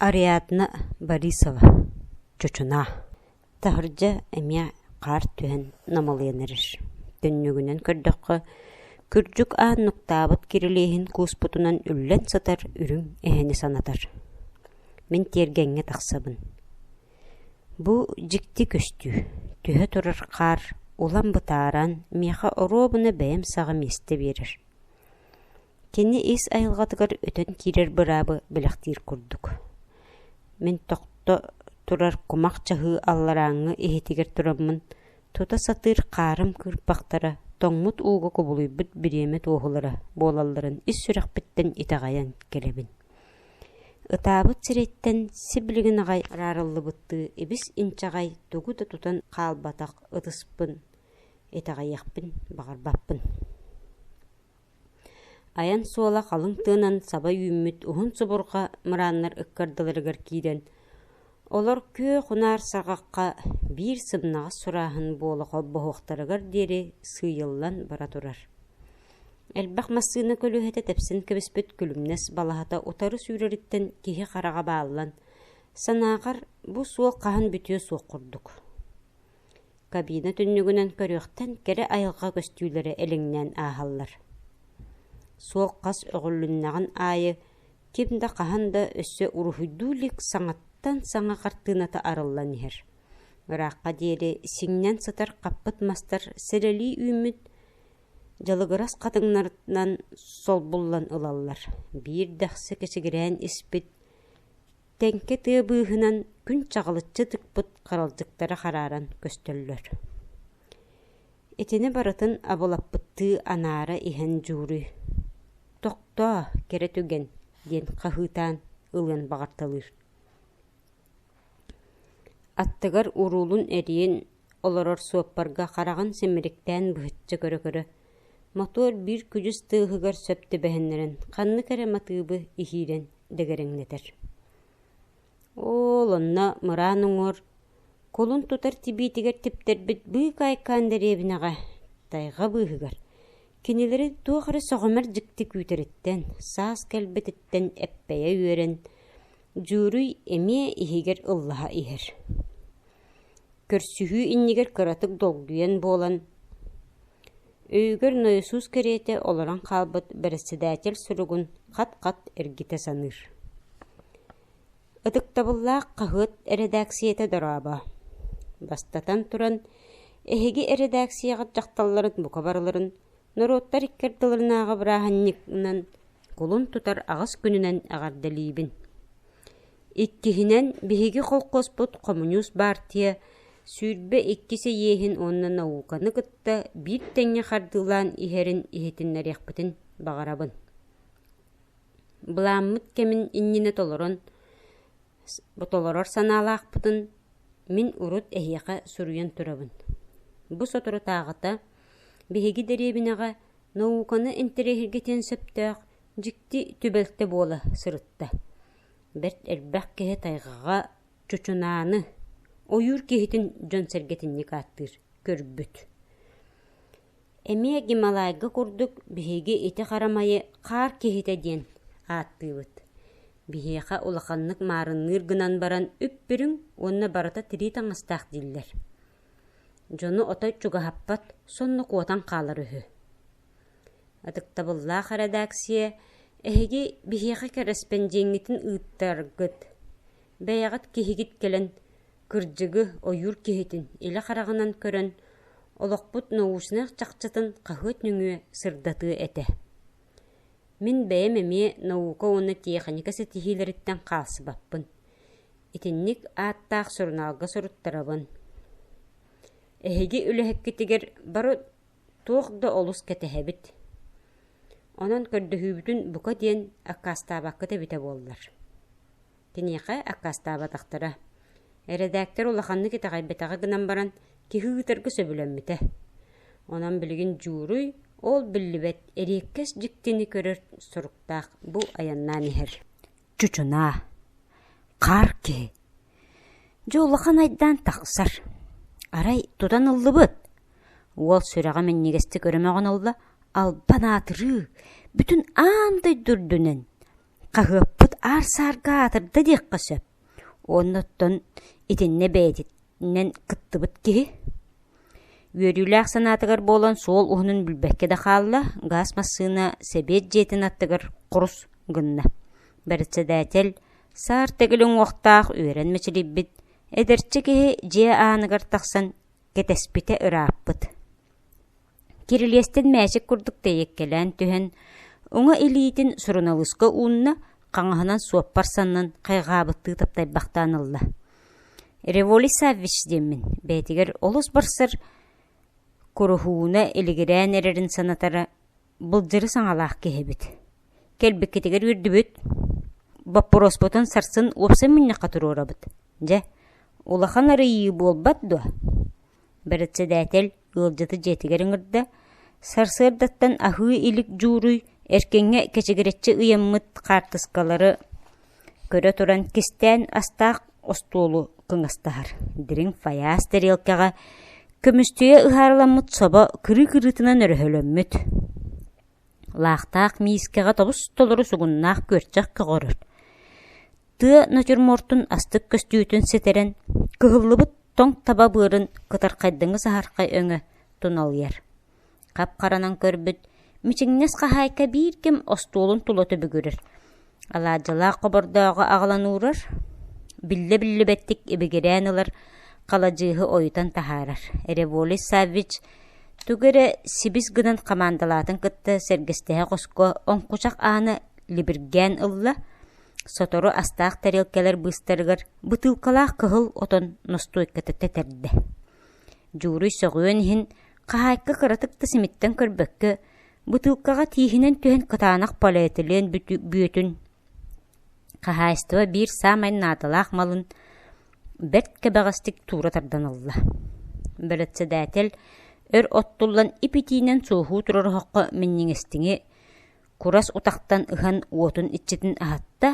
Ариадна Борисова чочунаа, таһырдьа эмиэ хаар түһэн намылыйан эрэр. Түннүгүнэн көрдөххө, кырдьык аан нуктаабыт кирилиэһин кууспутунан үллэн сытар үрүҥ эһэни санатар. Мин тиэргэҥҥэ тахсабын. Бу дьикти көстүү, түһэ турар хаар улам бытааран, миэхэ оруобуна бэйэм саҕа миэстэ биэрэр. Кини ис айылҕатыгар өтөн киирэр быраабы бэлэхтиир курдук. Мин тохто турар кумах чаһыы алларааҥҥы иһитигэр тураммын, тута сатыыр хаарым кыырпахтара, тоҥмут ууга кубулуйбут бириэмэ туоһулара буолалларын ис сүрэхпиттэн итэҕэйэн кэлэбин. Ытаабыт сириттэн сиблигин аҕай араарыллыбыттыы ибис-инчэҕэй тугу да тутан хаалбатах ытыспын итэҕэйиэхпин баҕарбаппын айан суола халыҥ тыынан саба үүммүт уһун субурҕа мырааннар ыккардыларыгар киирэн олор күөх унаар саҕахха биир сымнаҕас сурааһын буола холбоһуохтарыгар диэри сыыйыллан бара турар элбэх массыына көлүөһэтэ тэпсэн кэбиспит күлүмнэс балаһата утары сүүрэриттэн киһи хараҕа бааллан санаахар бу суол хаһан бүтүө суох курдук Кабина түннүгүнэн көрүөхтэн кэрэ айылҕа көстүүлэрэ элиҥнээн ааһаллар. Суох хас өҕүлүннэҕин аайы ким да хаһан да өссө уруһуйдуу илик саҥаттан саҥа хартыыната арыллан иһэр. Ыраахха диэри сиҥнэн сытар хаппыт мастар сэрэлии үүммүт дьалыгырас хатыҥнарынан солбуллан ылаллар, биир дэхси кэсигирээн испит Тэҥкэ тыа быыһынан күн чаҕылыччы тыкпыт харалдьыктара харааран көстөллөр Итини барытын абылаппыттыы анаара иһэн дьууруй «Тохтоо, кэрэ түгэн!» диэн хаһыытаан ылыан баҕарталыыр. Аттыгар уруулун эрийэн Олорор суоппарга хараҕын симириктээн быһыччы көрө-көрө, мотуор биир күдьүс тыаһыгар сөп түбэһиннэрэн, ханнык эрэ матыыбы иһиирэн дэгэрэҥнэтэр. Оол, онно мыраан уҥуор кулун тутар тибиитигэр типтэрбит быык айкаан дэриэбинэҕэ, тайҕа быыһыгар, кинилэри туох эрэ сөҕүмэр дьикти күүтэриттэн, саас кэлбититтэн эппэйэ үөрэн, Дьууруй эмиэ иһигэр ыллаһа иһэр Көрсүһүү иннигэр кыратык долгуйан буолан, өйүгэр Ноесус кэриэтэ олорон хаалбыт бэрэссэдээтэл суругун хат-хат эргитэ саныыр Ытыктабыллаах хаһыат эрэдээксийэтэ дорообо! Бастатан туран, эһиги эрэдээксийэҕит дьахталларын бука барыларын Норуоттар икки ардыларынааҕы бырааһынньыгынан кулун тутар аҕыс күнүнэн эҕэрдэлиибин! Иккиһинэн, биһиги холхуоспут хомуньуус баартыйа сүүрбэ иккис эйиэһин уонна науканы кытта биир тэҥҥэ хардыылаан иһэрин иһитиннэриэхпитин баҕарабын. Былааммыт кэмин иннинэ толорон, толорор санаалаахпытын мин урут эһиэхэ суруйан турабын. Бу соторутааҕыта Биһиги дэриэбинэҕэ науканы интэриэһиргэтиэн сөптөөх дьикти түбэлтэ буола сырытта. Бэрт элбэх киһи тайҕаҕа чучунааны, ойуур киһитин дьон-сэргэтинник ааттыыр, көрбүт. Эмиэ Гималайга курдук биһиги ити харамайы хаар киһитэ диэн ааттыыбыт. Биһиэхэ улаханнык маарынныыр гынан баран үп-үрүҥ уонна барыта тирии таҥастаах дииллэр. Дьону отой чугаһаппат, сонно куотан хаалар үһү. Ытыктабыллаах эрэдээксийэ эһиги биһиэхэ кэрэспэндиэҥҥитин ыыттаргыт, бэйэҕит киһигит кэлэн кырдьыгы, ойуур киһитин илэ хараҕынан көрөн, олохпут научнай чахчытын хаһыат нөҥүө сырдатыа этэ. Мин бэйэм эмиэ наука уонна тиэхиньикэ ситиһиилэриттэн хаалсыбаппын. Итинник ааттаах сурунаалга суруттарабын. Эһиги үлэһиккитигэр бары туох да олус кэтэһэбит. Онон көрдөһүүбүтүн бука диэн аккаастаабаккыт эбитэ буоллар. Киниэхэ аккаастаабатахтара. Эрэдээктэр улаханнык итэҕэйбэтэҕэ гынан баран, киһи ыытарга сөбүлэммитэ. Онон билигин дьууруй ол биллибэт эриэккэс дьиктини көрөр соруктаах бу айаннаан иһэр чучунаа, хаар киһи. Дьэ улахан айдаан тахсар. Арай тутан ыллыбыт. Уол сүрэҕэ минньигэстик өрөмөҕөн ылла, албан аатырыы, бүтүн аан дойду үрдүнэн хаһыаппыт аар саарга аатырда диэххэ сөп. Онно оттон итиннэ бэйэтит нэн кыттыбыт киһи үөрүүлээх санаатыгар буолан суол уһунун билбэккэ да хаалла, газ массыына Сэбиэт дьиэтин аттыгар курус гынна. Бэрэссэдээтэл саар төгүл уҥуохтаах үөрэн мэчилийбит эдэрчи киһи дьиэ ааныгар тахсан кэтэспитэ ырааппыт. Кирилиэстэн мээчик курдук тэйэккэлээн түһэн, уҥа илиитин суруналыыска уунна, хаҥаһынан суоппар саннын хайҕаабыттыы таптайбахтаан ылла. «Револи Саввич» диэммин, бэйэтигэр олус барсар куруһууна илигирээн эрэрин санатара былдьыры саҥалаах киһи эбит. Кэлбиккитигэр үөрдүбүт. Боппуруоспутун сарсын уопсан мунньахха туруорабыт. Дьэ, улахан арыйыы буолбат дуо? Бэрэссэдээтэл ыалдьыты дьиэтигэр ыҥырда, сарсыардаттан аһыы илик дьууруй эркиҥҥэ кэчигирэччи ыйаммыт хаартыскалары көрө туран кистээн астаах остуолу кыҥастаһар, дириҥ фаяз тэриэлкэҕэ көмүстүйэ ыһаарыламмыт собо кырыы-кырыытынан өрөһөлөммүт Лаахтаах миискэҕэ тобус-толору сугуннаах күөрчэх көҕөрөр, тыа натюрмортун астык көстүүтүн ситэрэн, кыһыллыбыт тоҥ таба быарын кытархайдыҥы саһархай өҥө туналыйар. Хап-харанан көрбүт, мичиҥнэс хаһаайка биир ким остуолун тула түбүгүрэр, Алаадьылаах хобордооҕу аҕалан уурар, биллэ-биллибэттик ибигирээн ылар, халадьыыһы ойутан таһаарар. Эреволис Саввич тугу эрэ сибис гынан хамаандалаатын кытта сэргэстэһэ хоско оҥкучах ааны либиргээн ылла, сотору астаах тарелкалар быыстарыгар бытыылкалаах кыһыл отон ностуойката тэтэрдэ. Дьууруй сөҕүөн иһин, хаһаайка кыратык да симиттэн көрбөккө, Бытыылкаҕа тииһинэн түһэн кытаанах полиэтилен бүөтүн, хаһаайыстыба биир саамай наадалаах малын бэрт кэбэҕэстик туура тардан ылла. Бэрэссэдээтэл өр оттуллан ип-итиинэн суоһуу турар оһоххо минньигэстиҥи курас утахтан ыһан уотун иччитин аһатта,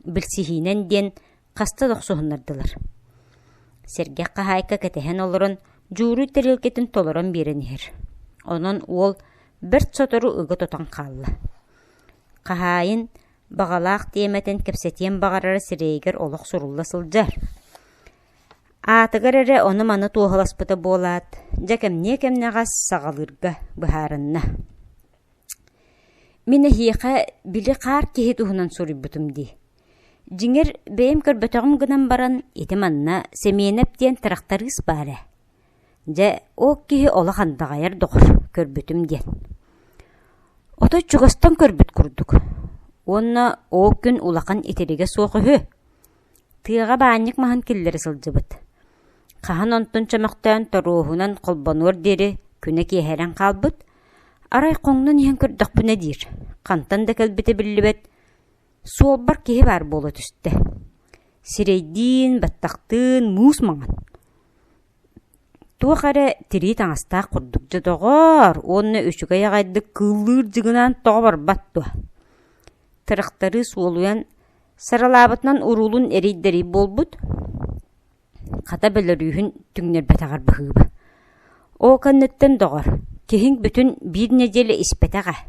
билсиһиинэн диэн хаста да охсуһуннардылар. Сэргэх хаһаайка кэтэһэн олорон дьууруй тарелкатын толорон биэрэн иһэр. Онон уол бэрт сотору ыга тутан хаалла. Хаһаайын баҕалаах тиэмэтин кэпсэтиэн баҕарара сирэйигэр олох сурулла сылдьар. Аатыгар эрэ ону-маны туоһаласпыта буолаат, дьэ кэмниэ-кэмнэҕэс саҕалыырга быһаарынна. Мин эһиэхэ били хаар киһи туһунан суруйбутум дии. Дьиҥэр, бэйэм көрбөтөҕүм гынан баран, ити манна Сэмиэнэп диэн тырахтарыыс баар ээ. Дьэ, ол киһи олох андаҕайар доҕор, көрбүтүм диэн. Отой чугастан көрбүт курдук. Уонна ол күн улахан итиригэ суох үһү. Тыаҕа баанньык маһын киллэрэ сылдьыбыт. Хаһан онтун чөмөхтөөн торуоһунан холбонуор диэри күнэ киэһэрэн хаалбыт. Арай хоҥнон иһэн көрдөхпүнэ диир, хантан да кэлбитэ биллибэт, Суолбар киһи баар буола түстэ, сирэйдиин, баттахтыын муус маҥан. Туох эрэ тирии таҥастаах курдук «Дьэ, доҕоор!» уонна үчүгэй аҕайдык кыыллыыр дьыгынаан тоҕо барбат дуо? Тырахтарыы суолуйан, саралаабытынан уруулун эрийдэрий буолбут, хата бөлөрүүһүн түҥнэрбэтэҕэр быһыыба. Ол кэнниттэн, доҕор, киһиҥ бүтүн биир нэдиэлэ испэтэх ээ.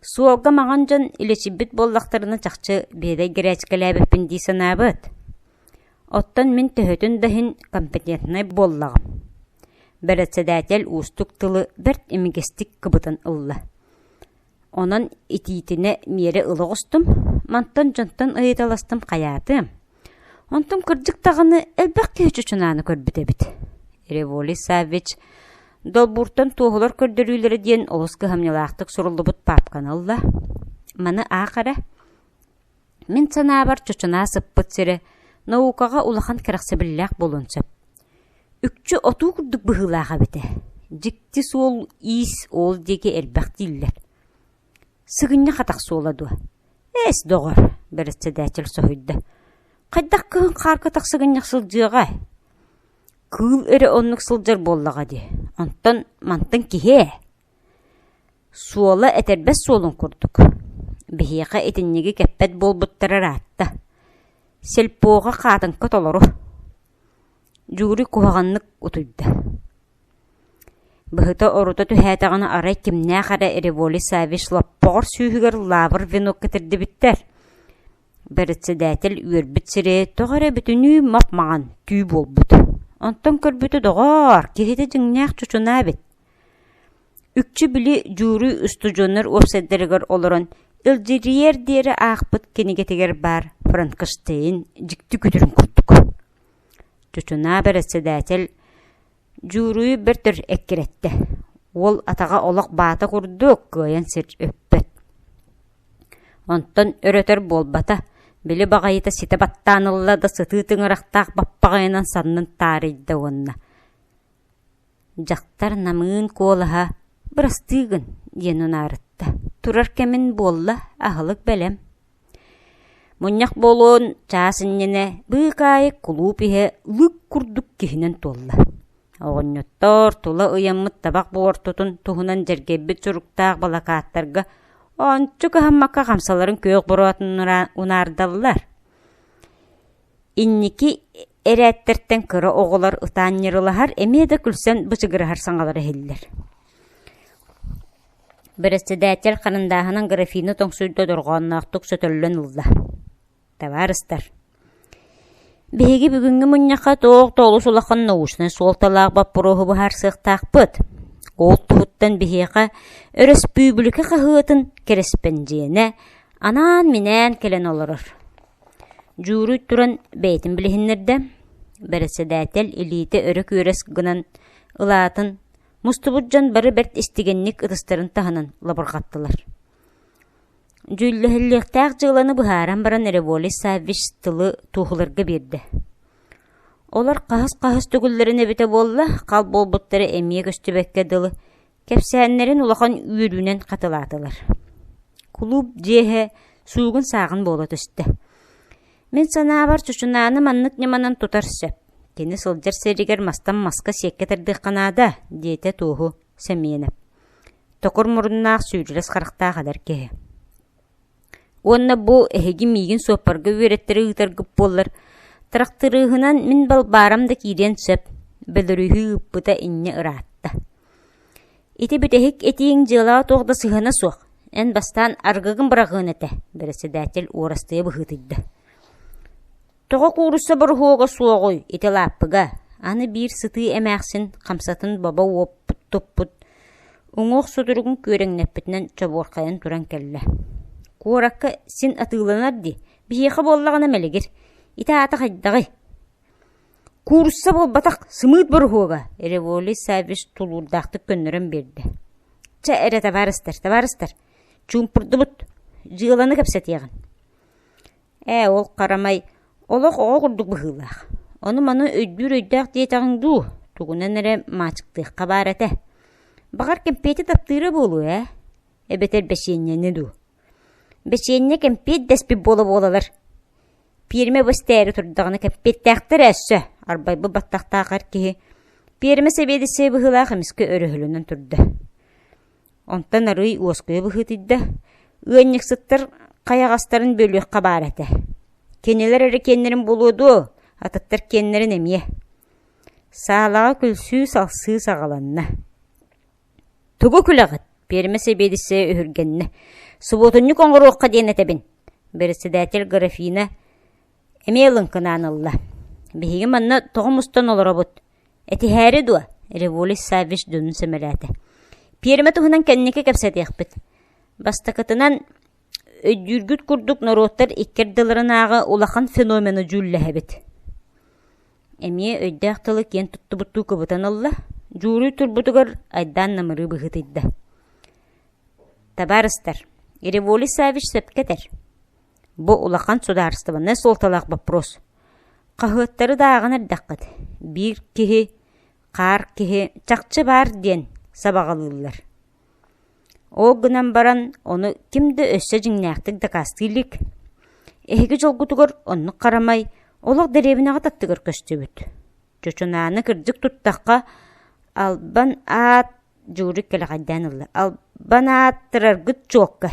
Суолга маҕан дьон илэчийбит буоллахтарына чахчы биэдэй гречкэлээбиппин дии санаабыт. Оттон мин төһөтүн да иһин компетентнай буоллаҕым. Бэрэссэдээтэл уустук тылы бэрт имигэстик кыбытан ылла. Онон итиитинэ миэрэ ыла оҕустум, мантан дьонтон ыйыталастым хайаатым Онтум кырдьык даҕаны элбэх киһи чучунааны көрбүт эбит. Револий Саввич долбууртан туоһулар көрдөрүүлэрэ диэн олус кыһамньылаахтык суруллубут паапканы ылла. Маны аах эрэ. Мин санаабар чучунаа сыппыт сирэ наукаҕа улахан кэрэхсэбиллээх буолуон сөп. Үкчү отуу курдук быһыылаах эбитэ. Дьикти суол иис ол диэки элбэх дииллэр. Сыгынньах атах суола дуо? «Эс, доҕор», – бэрэссэдээтэл соһуйда, – «хайдах кыһын хаарга тахсыгынньах сылдьыаҕай?» «Кыыл эрэ оннук сылдьар буоллаҕа дии, онтон мантан киһи ээ» Суола этэрбэс суолун курдук. Биһиэхэ итинниги кэппэт буолбуттара ыраатта. Сельпоҕа хаатыҥка толору Дьуури куһаҕаннык утуйда Быһыта орута түһээтэҕинэ арай кимнээх эрэ Револи Саввич лоппоҕор сүүһүгэр лаабыр венок кэтирдибиттэр Бэрэссэдээтэл үөрбүт сирэйэ тоҕо эрэ бүтүнүү мап-маҥан, түү буолбут Онтон көрбүтэ доҕоор, киһитэ дьиҥнээх чучунаа эбит Үкчү били Дьуури устудьуоннар уопсайдарыгар олорон илдьирийэр диэри аахпыт кинигэтигэр баар Франкенштейн дьикти күтүрүн курдук Чучунаа бэрэссэдээтэл дьууруйу бэрт өр эккирэттэ, уол атаҕа олох баата курдук кыайан сир өппөт. Онтон өр-өтөр буолбата, били баҕайыта ситэ баттаан ылла да сытыы тыҥырахтаах баппаҕайынан саннын таарыйда уонна: Дьахтар намыын куолаһа «Бырастыы гын!» диэн унаарытта. Турар кэмин буолла, аһылык бэлэм. Мунньах буолуон чаас иннинэ быык аайы кулууп иһэ лык курдук киһинэн туолла. Оҕонньоттор тула ыйаммыт табах буортутун туһунан дьэргэйбит суруктаах балакааттарга ончу кыһаммакка хамсаларын күөх бороотун унаардаллар. Инники эрээттэртэн кыра оҕолор ытаан ньырылаһар, эмиэ да күлсэн бычыгыраһар саҥалара иһиллэр Бэрэссэдээтэл харандааһынан графина тоҥсуйда дорҕоонноохтук сөтөллөн ылла. «Табаарыстар, биһиги бүгүҥҥү мунньахха туох да олус улахан научнай суолталаах боппуруоһу быһаарсыахтаахпыт. Ол туһуттан биһиэхэ өрөспүүбүлүкэ хаһыатын кэрэспэндьиэнэ анаан-минээн кэлэн олорор. Дьууруй туран бэйэтин билиһиннэрдэ, бэрэссэдээтэл илиитэ өрө күөрэс гынан ылаатын, мустубут дьон бары бэрт истигэнник ытыстарын таһынан лабырҕаттылар. Дьүүллэһиллиэхтээх дьыаланы быһааран баран эрэ Волис Саввич тылы туоһуларга биэрдэ. Олор хаһыс-хаһыс төгүллэрин эбитэ буолла, хал буолбуттара эмиэ көстүбэккэ дылы, Кэпсээннэрин улахан үөрүүнэн хатылаатылар. Кулууп дьиэһэ суугун-сааҕын буола түстэ. Мин санаабар, Чучунааны маннык ньыманан тутар сөп. Кини сылдьар сиригэр мастан маска сиэккэ тардыахха наада, диэтэ туоһу Сэмиэнэп. Токур муруннаах сүүрүлэс харахтаах эдэр киһи Уонна бу эһиги миигин суоппарга үөрэттэри ыытаргыт буоллар, тырахтырыыһынан мин баарам да киириэн сөп, бөлөрүһүү ыыппыта инньэ ыраатта. Ити бүтэһик этииҥ дьыалаҕа туох да сыһыана суох, эн бастаан арыгыгын быраҕыан этэ, бэрэссэдээтэл уорастыйа быһыытыйда Тоҕо куурусса боруһуога суоҕуй ити лааппыга? Аны биир сытыы эмээхсин хамсатын боbo уоппут туппут уҥуох сутуругун күөрэҥнэппитинэн чобуорхайан туран кэллэ. Куоракка син атыыланар дии, биһиэхэ буоллаҕына мэлигир. Ити аата хайдаҕый? Куурусса буолбатах сымыыт боруһуога, Револи Савиш тулуурдаахтык көннөрөн биэрдэ. Чэ эрэ табаарыстар, табаарыстар, чуумпурдубут, дьыаланы кэпсэтиэҕин. Ээ, ол харамай олох оҕо курдук быһыылаах, ону-маны өйдүүр өйдөөх диэтэҕиҥ дуу, тугунан эрэ маачыктыахха баар этэ. Баҕар, кэмпиэти таптыыра буолуо ээ, эбэтэр бэчиэнньэни дуу? Бэчиэнньэ кэмпиэт дэспит буола-буолалар. Пиэрмэ бу истээри турдаҕына кэмпиэттээхтэр өссө, арбайбыт баттахтаах эр киһи пиэрмэ сэбиэдиссэйэ быһыылаах эмискэ өрөһөлөнөн турда. Онтон арыый уоскуйа быһыытыйда, ыанньыксыттар хайаҕастарын бөлүөххэ баар этэ. Кинилэр эрэ киэннэрин булуо дуо, атыттар киэннэрин эмиэ. Саалаҕа күлсүү-салсыы саҕаланна. «Тугу күлэҕит?» Пиэрмэ сэбиэдиссэйэ үһүргэннэ. «Субуотунньук оҥоруохха диэн этэбин». Бэрэссэдээтэл Графина эмиэ ылыҥкынаан ылла: «Биһиги манна тоҕо мустан олоробут? Этиһээри дуо?» Революсь Саввич дьонун сэмэлээтэ: «Пиэрмэ туһунан кэнники кэпсэтиэхпит. бастакытынан, өйдүүргүт курдук норуоттар икки ардыларынааҕы улахан феномену дьүүллэһэбит» эмиэ өйдөөх тылы киэн туттубуттуу кыбытан ылла, дьууруй турбутугар айдаан намырыы быһыытыйда: «Табаарыстар, Революсь Саввич сөпкө этэр. Бу улахан судаарыстыбаннай суолталаах боппуруос. Хаһыаттары дааҕын эрдэххит, биир киһи, хаар киһи чахчы баар диэн сабаҕалыыллар. Ол гынан баран, ону ким да өссө дьиҥнээхтик дакаастыы илик. Эһиги дьолгутугар оннук харамай олох дэриэбинэҕэ таттыгар көстүбүт. Чочунааны кырдьык туттахха, албан аат Журик кэлэҕэйдээн ылла. Албан ааттыраргыт чуокка.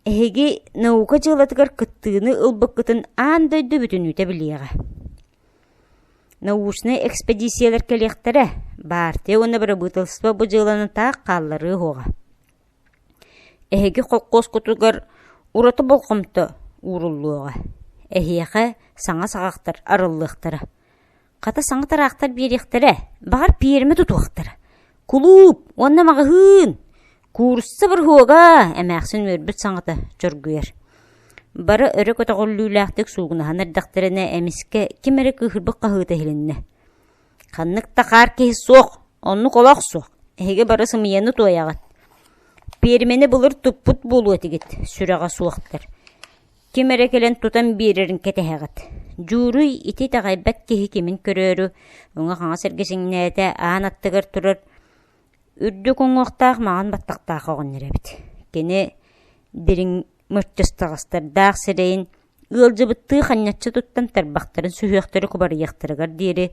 Эһиги наука дьыалатыгар кыттыыны ылбыккытын аан дойду бүтүнүүтэ билиэҕэ. Научнай экспэдииссийэлэр кэлиэхтэрэ, баартыйа уонна бырабыыталыстыба бу дьыаланы таах хаалларыа уоҕа. Эһиги холкуоскутугар ураты болҕомто ууруллуоҕа. Эһиэхэ саҥа саҕахтар арыллыахтара. Хата саҥа тыраахтар биэриэхтэрэ, баҕар пиэрмэ тутуохтара. Кулууп уонна маҕаһыын! Куурусса бырыһуога эмээхсин үөрбүт саҥата чоргуйар. Бары өрө көтөҕүллүүлээхтик суугунаһан эрдэхтэринэ эмискэ ким эрэ кыыһырбыт хаһыыта иһилиннэ. Ханнык да хаар киһи суох, оннук олох суох, эһиги бары сымыйаны туойаҕыт. Пиэрмэни былыр туппут буолуо этигит, сүрэҕэ суохтар. ким эрэ кэлэн тутан биэрэрин кэтэһэҕит дьууруй ити итэҕэйбэт киһи кимин көрөөрү уҥа-хаҥас эргичиҥнээтэ аан аттыгар турар үрдүк уҥуохтаах маҕан баттахтаах оҕонньор эбит кини дириҥ мыччыстаҕастардаах сирэйин ыалдьыбыттыы ханньаччы туттан тарбахтарын сүһүөхтэрэ кубарыйыахтарыгар диэри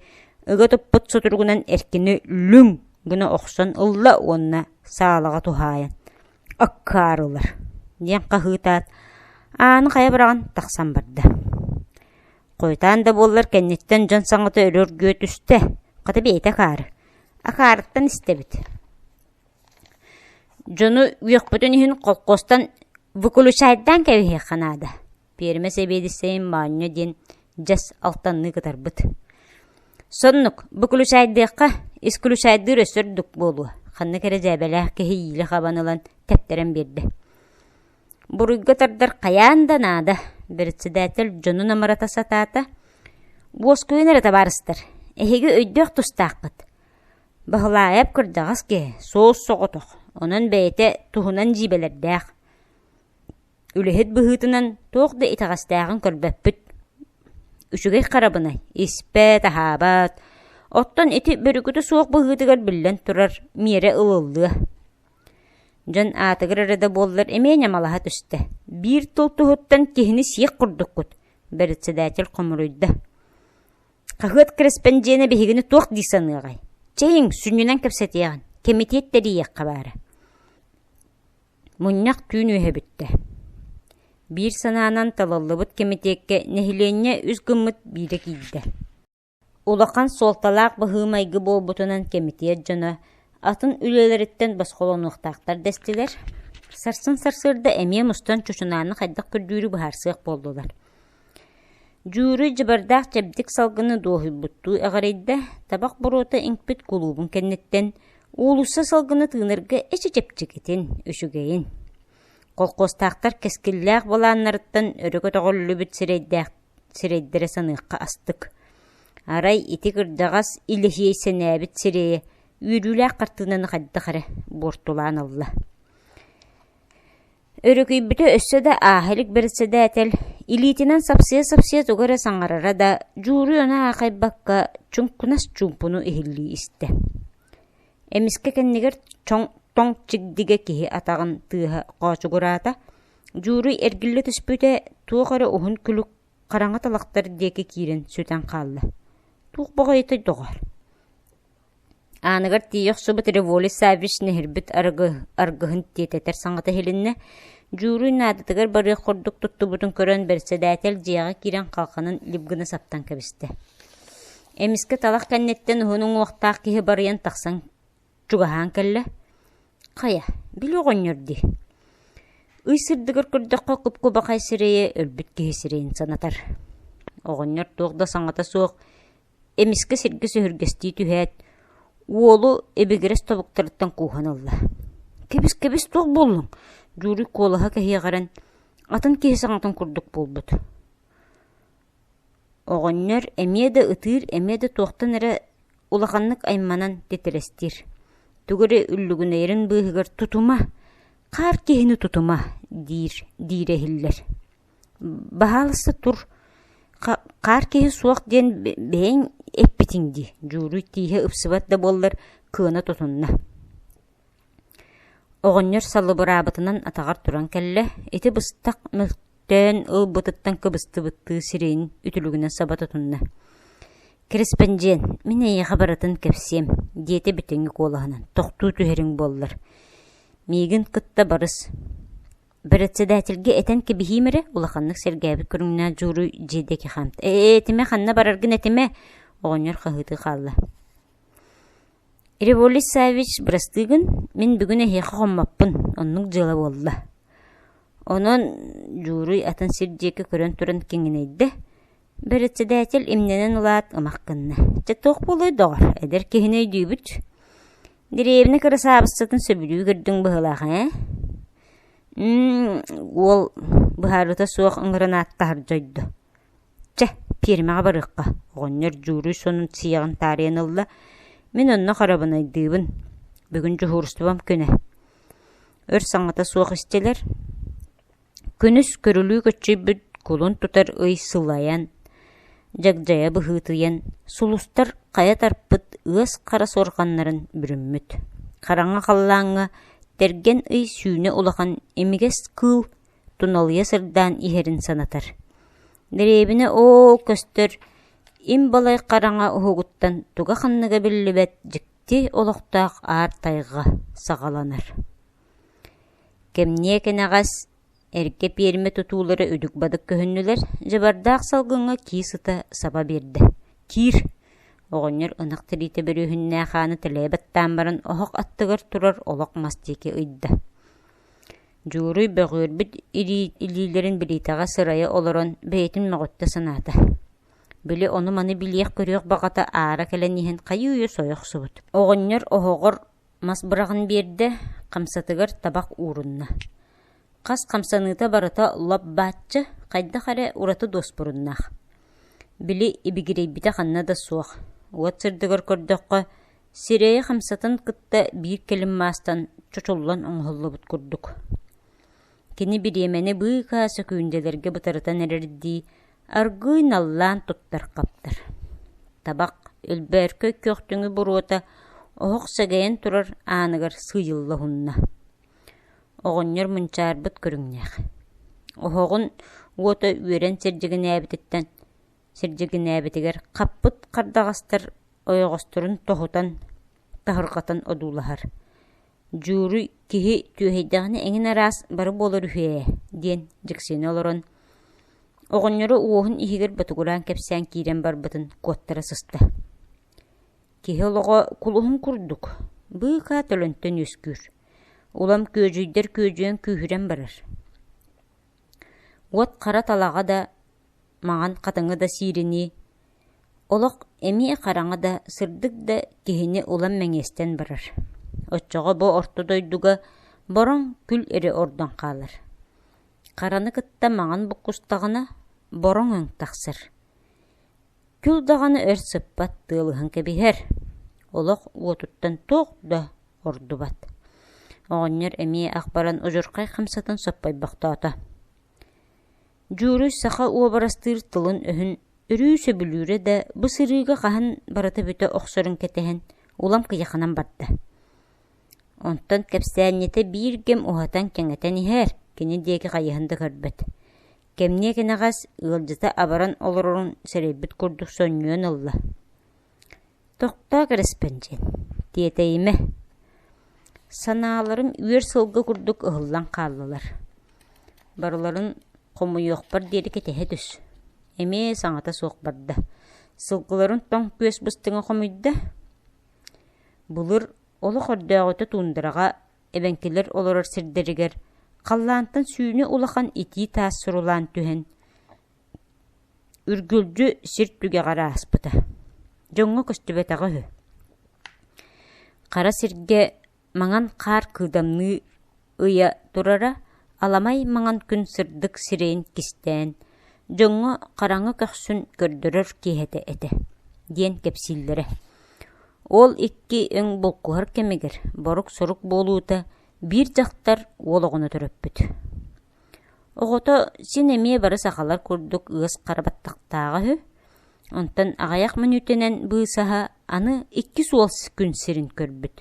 ыга туппут сутуругунан эркини лүҥ гына охсон ылла уонна саалаҕа туһаайан Оккаар ылар, диэн хаһыытаат, ааны хайа быраҕан тахсан барда. Хойутаан да буоллар кэнниттэн дьон саҥата өрө өргүө түстэ, хата бэйэтэ акаары, акаарыттан истэбит. Дьону үөхпүтүн иһин колхозтан выключайдаан кэбиһиэххэ наада Пиэрмэ сэбиэдиссэйин моонньо диэн дьэс алтанныы кытарбыт. Соннук, бу күлүсэйдиэххэ, искүлүсэйдиир өссө үрдүк буолуо, ханна кэрэ дьээбэлээх кэһиилии хабан ылан тэптэрэн биэрдэ. Буруйга тардар хайаан да наада, председатель дьонун амарата сатаата. Буоскуйун эрэ табаарыстар, эһиги өйдөөх тустааххыт. Баһылаайап кырдьаҕас киһи, суос соҕотох, онон бэйэтэ туһунан дьиибэлэрдээх. Үлэһит быһыытынан туох да итэҕэстээҕин көрбөппүт. Үчүгэй харабынай, испэт, аһаабат, оттон ити бөрүкүтэ суох быһыытыгар биллэн турар, миэрэ ылыллыа. Дьон аатыгар эрэ да буоллар эмиэ ньамалаһа түстэ. Биир тыл туһуттан киһини сиэх курдуккут, бэрэссэдээтэл хомуруйда. Хаһыат корреспондена биһигини туох дии саныаҕай? Чэйиҥ, сүнньүнэн кэпсэтиэҕин, кэмитиэт тэрийиэххэ баара. Мунньах түүн үөһэ бүттэ. Биир санаанан талыллыбыт кэмитиэккэ нэһилиэнньэ үс гыммыт биирэ киирдэ. Улахан суолталаах быһыы-майгы буолбутунан кэмитиэт дьоно атын үлэлэриттэн босхолонуохтаахтар дэстилэр, сарсын сарсыарда эмиэ мустан чучунааны хайдах көрдүүрү быһаарсыах буоллулар. Дьууруй дьабардаах чэбдик салгыны дуоһуйбуттуу эҕирийдэ, табах боруота иҥпит кулуубун кэнниттэн, уулусса салгыны тыынарга эчи-чэпчэкитин, үчүгэйин, колхуостаахтар кэскиллээх былааннарыттан өрө көтөҕүллүбүт сирэйдээх сирэйдэрэ саныахха астык, арай ити кырдьаҕас илэһиэй сэнээбит сирэйэ үөрүүлээх хартыынаны хайдах эрэ буортулаан ылла. Өрүкүйбүтэ өссө да ааһа илик бэрэссэдээтэл илиитинэн сапсыйа-сапсыйа тугу эрэ саҥарара да, дьууруйаны аахайбакка чуҥкунас чуумпуну иһиллии истэ. Эмискэ кэннигэр чоҥ тоҥ чигдигэ киһи атаҕын тыаһа хоочугураата, дьууруй эргиллэ түспүтэ туох эрэ уһун күлүк хараҥа талахтар диэки киирэн сүтэн хаалла. Туох баҕайытай доҕоор Ааныгар тиийэ охсубут Револе Саввич нэһирбит арыгы аргыһын тиэтэтэр саҥата иһилиннэ, дьууруй наадатыгар барыах курдук туттубутун көрөн, бэрэссэдээтэл дьиэҕэ киирэн халҕанан лип гына саптан кэбистэ. Эмискэ талах кэнниттэн уһун уҥуохтаах киһи барыйан тахсан чугаһаан кэллэ: «Хайа, били оҕонньор дии, ый сырдыгар көрдөххө куп-кубахай сирэйэ өлбүт киһи сирэйин санатар. Оҕонньор туох да саҥата суох, эмискэ сиргэ сүһүргэстии түһээт, уолу ибигирэс тобуктарыттан кууһан ылла. «Кэбис, кэбис, туох буоллуҥ?» Дьууруй куолаһа кэһиэҕирэн, атын киһи саҥатын курдук буолбут. Оҕонньор эмиэ да ытыыр, эмиэ да туохтан эрэ улаханнык айманан титирэстиир. Тугу эрэ үллүгүнэйэрин быыһыгар «Тутума! Хаар киһини тутума!» диир диирэ иһиллэр. Баһаалыста тур, хаар киһи суох диэн бэйэҥ эппитиҥ дии, Дьууруй тииһэ ыпсыбат да буоллар кыана тутунна оҕонньор салыбыраабытынан атаҕар туран кэллэ, ити быстах мөлтөөн ылбытыттан кыбыстыбыттыы сирэйин үтүлүгүнэн саба тутунна. «Корреспондент, мин эйиэхэ барытын кэпсиэм», диэтэ бүтэҥи куолаһынан. «Тохтуу түһэриҥ буоллар. Миигин кытта барыс». Бэрэссэдээтэлгэ этэн кэбиһиим эрэ, улаханнык сэргээбит көрүҥнээх дьууруй дьиэ диэки хаамт «Ээ, этимэ, ханна бараргын этимэ?» оҕонньор хаһыытыы хаалла. «Революс Саввич, бырастыыгын мин бүгүн эһиэхэ хоммоппун, оннук дьыала буолла». Онон дьууруй атын сир диэки көрөн туран киҥинэйдэ, Бэрэссэдээтил имнэнэн ылаат ымах гынна: «Чэ, туох буолуой, доҕор, эдэр киһини өйдүүбүт. Дэриэбинэ кырасаабыссатын сөбүлүү көрдүҥ быһыылаах ээ?» Уол быһаарыыта суох ыҥыран ааттаһар дьойдо: «Чэ, пиэрмэҕэ барыахха, оҕонньор дьууруй сонун сиэҕин таарыйан ылла, мин онно харабынайдыыбын, бүгүн дьуһуурустубам күнэ». Өр саҥата суох истилэр. Күнүс көрүлүү көччүйбүт кулун тутар ый сылайан, дьагдьайа быһыытыйан, сулустар хайа тарпыт ыас хара суорҕаннарын бүрүммүт, хараҥа халлааҥҥа тэргэн ый сүүнэ улахан имигэс кыыл туналыйа сырдаан иһэрин санатар. Дэриэбинэ оо көстөр им балай хараҥа уһугуттан туга-ханныга биллибэт дьикти олохтоох аар тайҕа саҕаланар Кэмниэ кэнэҕэс, эргэ пиэрмэ тутуулара үдүк-бадык көһүннүлэр, дьабардаах салгыҥҥа киис ыта саба биэрдэ. «Киир!» оҕонньор ынах тириитэ бөрүһүннээх ааны тэлэйэ баттаан баран оһох аттыгар турар олох мас диэки ыйда. Дьууруй бөҕүөрбүт илиилэрин билиитэҕэ сырайа олорон бэйэтин мөҕүттэ санаата. Били ону-маны билиэх-көрүөх баҕата аара кэлэн иһэн хайыы-үйэ сойох охсубут. Оҕонньор оһоҕор мас быраҕан биэрдэ, хамсатыгар табах уурунна. Хас хамсаныыта барыта лоп-бааччы, хайдах эрэ ураты дуоспуруннаах. Били ибигирэйбитэ ханна да суох. Уот сырдыгар көрдөххө, сирэйи хамсатын кытта биир кэлим маастан чочуллан оҥоһуллубут курдук кини бириэмэни быыкаа сөкүүндэлэргэ бытарытан эрэрдии аргыый наллаан туппар хаптар табах өлбөөркөй күөхтүҥү буруота оһох сэгэйэн турар ааныгар сыыйыллаһунна оҕонньор мунчаарбыт көрүҥнээх оһоҕун уота үөрэн сирдьигинээбититтэн сирдьигинээбитигэр хаппыт хардаҕастар ойоҕосторун тоһутан таһырҕатан одуулаһар Дьууруй киһи түөһэйдэҕинэ эҥин араас бары буолар үһү ээ, диэн дьиксинэ олорон, оҕонньоро уоһун иһигэр ботугураан кэпсээн киирэн барбытын куоттара сыста. Киһи олоҕо кулуһун курдук, быыкаа төлөнтөн үөскүүр. Улам күөдьүйдэр күөдьүөн күүһүрэн барар. Уот хара талаҕа да, маҥан хатыҥы да сииринии, олох эмиэ хараҥа да, сырдык да киһини улам мэҥиэстэн барар. Оччоҕо бу орто дойдуга бороҥ күл эрэ ордон хаалар. Хараны кытта маҥан буккустаҕына, бороҥ өҥ тахсар. Күл даҕаны өр сыппат тыалыһан кэбиһэр. Олох уотуттан туох да ордубат. Оҕонньор эмиэ ах баран удьурхай хамсатын соппойбохтоото. Дьууруй саха уобарастыыр тылын-өһүн өрүү сөбүлүүрэ да, бу сырыыга хаһан барыта бүтэ охсорун кэтэһэн, улам кыйаханан барда. Онтон кэпсээнньитэ биир кэм уһатан-кэҥэтэн иһээр, кини диэки хайыһан да көрбөт. Кэмниэ кэнэҕэс ыалдьыта абаран олорорун сэрэйбит курдук сонньуйан ылла Тохтоо, кэрэспэндьиэн, тиэтэйимэ, санааларым үөр сылга курдук ыһыллан хааллылар. Барыларын хомуйуохпар диэри кэтэһэ түс. Эмиэ саҥата суох барда. Сылгыларын тоҥ күөс быстыҥа хомуйда. Былыр олох өрдөөҕүтэ туундараҕа эбэҥкилэр олорор сирдэригэр халлаантан сүүнэ улахан итии таас сурулаан түһэн, Үргүлдьү сир түгэҕэр ааспыта, дьоҥҥо көстүбэтэҕэ үһү. Хара сиргэ маҥан хаар кыыдамныы ыйа турара аламай маҥан күн сырдык сирэйин кистээн, дьоҥҥо хараҥа көхсүн көрдөрөр киэһэтэ этэ, диэн кэпсииллэрэ. Ол икки өҥ булкуһар кэмигэр борук-сорук буолуута биир дьахтар уол оҕону төрөппүт Оҕото син эмиэ бары сахалар курдук ыас хара баттахтааҕа үһү, онтон аҕыйах мүнүүтэнэн быысаһа аны иккис уол күн сирин көрбүт.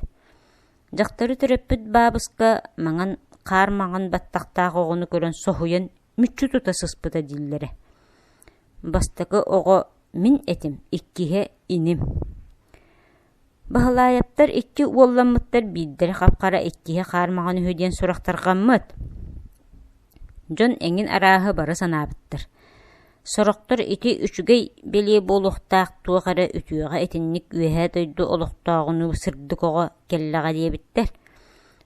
Дьахтары төрөппүт баабыска маҥан хаар маҥан баттахтаах оҕону көрөн соһуйан мүччү тута сыспыта дииллэрэ. Бастакы оҕо мин этим, иккиһэ иним. Баһылаайаптар икки уолламмыттар биирдэрэ хап-хара иккиһэ хаармаҕан үһү диэн сурахтарҕаммыт, дьон эҥин арааһы бары санаабыттар, сорохтор ити үчүгэй бэлиэ буолуохтаах туох эрэ үтүөҕэ итинник үөһээ дойду олохтооҕунуу сырдык оҕо кэллэҕэ диэбиттэр,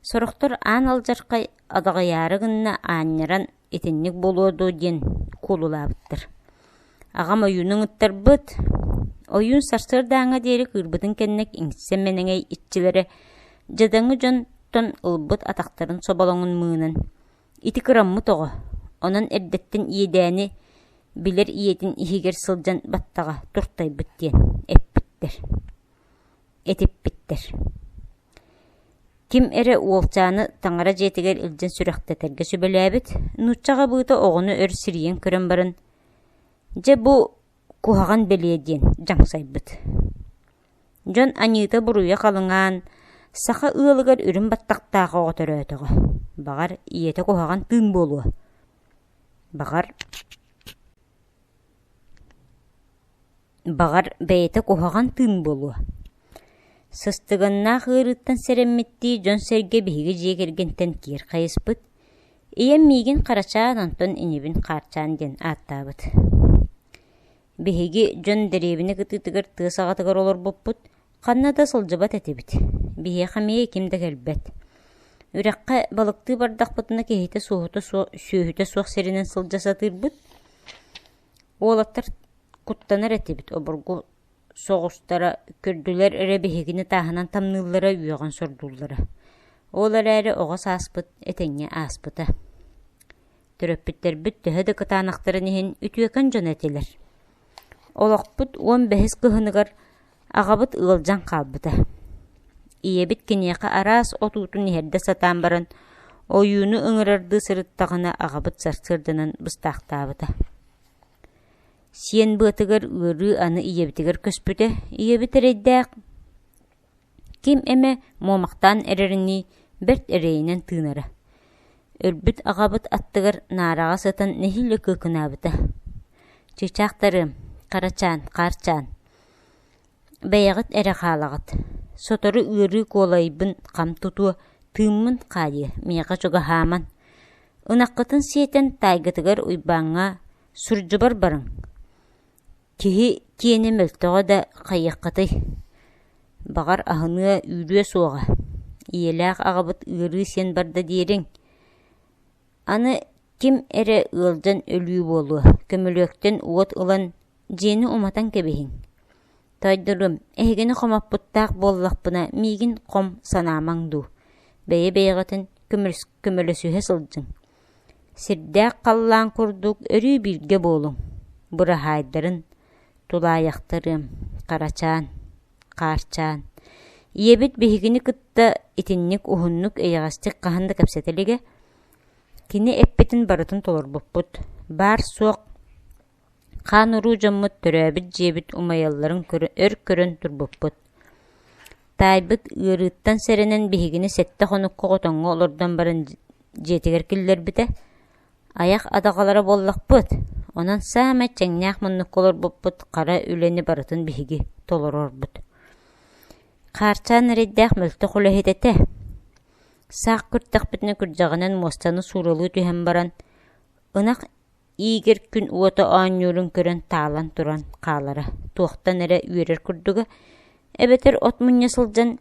сорохтор аан алдьархай адаҕыйаары гынна аанньаран итинник буолуо дуу диэн куолулаабыттар. Аҕам ойуунун ыттарбыт, ойуун сарсыардааҥҥа диэри кыырбытын кэннэ иҥссэн мэнэҥэй иччилэрэ дьадаҥы дьонтон ылбыт атахтарын соболоҥун мыынан ити кыраммыт оҕо, онон эрдэттэн иэдээни билэр ийэтин иһигэр сылдьан баттаҕа туртайбыт диэн эппиттэр. Этиппиттэр Ким эрэ уолчааны таҥара дьиэтигэр илдьэн сүрэхтэтэргэ сүбэлээбит, нууччаҕа быыта оҕону өр сирийэн көрөн баран: «Дьэ, бу куһаҕан бэлиэ» диэн дьаҥсайбыт. Дьон аньыыта буруйа халыҥаан, саха ыалыгар үрүҥ баттахтаах оҕо төрөөтөҕө. Баҕар, ийэтэ куһаҕан тыын буолуо. Баҕар, Баҕар, бэйэтэ куһаҕан тыын буолуо. Сыстыганнаах ыарыыттан сэрэммиттии дьон-сэргэ биһиги дьиэ кэргэнтэн киир хайыспыт, ийэм миигин Харачаан Антон инибин Хаарчаан диэн ааттаабыт. Биһиги дьон дэриэбинэ кытыытыгар тыа саҕатыгар олорбуппут, Ханна да сылдьыбат этибит, биһиэхэ эмиэ ким да кэлбэт. Үрэххэ балыктыы бардахпытына киһитэ суоһута суох, сүөһүтэ суох сиринэн сылдьа сатыырбыт. Уолаттар куттанар этибит, обургу соҕустара көрдүлэр эрэ биһигини тааһынан тамныыллара үөҕэн сордууллара. Ол эрээри оҕо сааспыт этэҥҥэ ааспыта Төрөппүттэрбит төһө да кытаанахтарын иһин үтүөкэн дьон этилэр. Олохпут уон бэһис кыһыныгар аҕабыт ыалдьан хаалбыта. Ийэбит киниэхэ араас отуутун иһэрдэ сатаан баран, ойууну ыҥырардыы сырыттаҕына аҕабыт сарсыарданан быстаахтаабыта. Сиэн быатыгар ыарыы аны ийэбитигэр көспүтэ, ийэбит эрэйдээх ким эмэ муомахтаан эрэринии бэрт эрэйинэн тыынара. Өлбүт аҕабыт аттыгар наараҕа сытан нэһиилэ кыыкынаабыта. «Чыычаахтарыам, Харачаан, Хаарчаан, бэйэҕит эрэ хаалаҕыт, сотору ыарыы куолайбын хам тутуо, тыыммын хаадыа, миэхэ чугаһааман. Ынаххытын сиэтэн таайгытыгар Уйбааҥҥа, сурдьубар барыҥ» Киһи киэнэ мөлтөҕө да хайыаххытый, баҕар, аһыныа үүрүө суоҕа, ийэлээх аҕабыт ыарыы сиэн барда диэриҥ, аны ким эрэ ыалдьан өлүү буолуо, көмүлүөктэн уот ылан дьиэни уматан кэбиһиҥ, тойдорум, эһигини хомоппуттаах буоллахпына миигин хом санаамаҥ дуу, бэйэ-бэйэҕитин көмөлөсүһэ сылдьыҥ Сирдээх халлаан курдук өрүү бииргэ буолуҥ, быраһаайдарын, тулаайахтарыам, харачаан, хаарчаан. Ийэбит биһигини кытта итинник уһуннук эйэҕэстик хаһан да кэпсэтэ илигэ, кини эппитин барытын толорбуппут, баар-суох хаан-уруу дьоммут төрөөбүт дьиэбит умайалларын өр көрөн турбуппут. Таайбыт ыарыыттан сэрэнэн биһигини сэттэ хонукка хотоҥҥо олордон баран дьиэтигэр киллэрбитэ, айах атаҕалара буоллахпыт, онон саамай чэҥнээх муннукка олорбуппут хара үлэни барытын биһиги толороорбут. Хаарчаан эрэйдээх мөлтөх үлэһит этэ. Саах күртэхпитинэ күрдьэҕинэн муостаны сууралыы түһэн баран, ынах Игорь күн уота оонньуурун көрөн таалан туран хаалара, туохтан эрэ үөрэр курдуга, эбэтэр от мунньа сылдьан,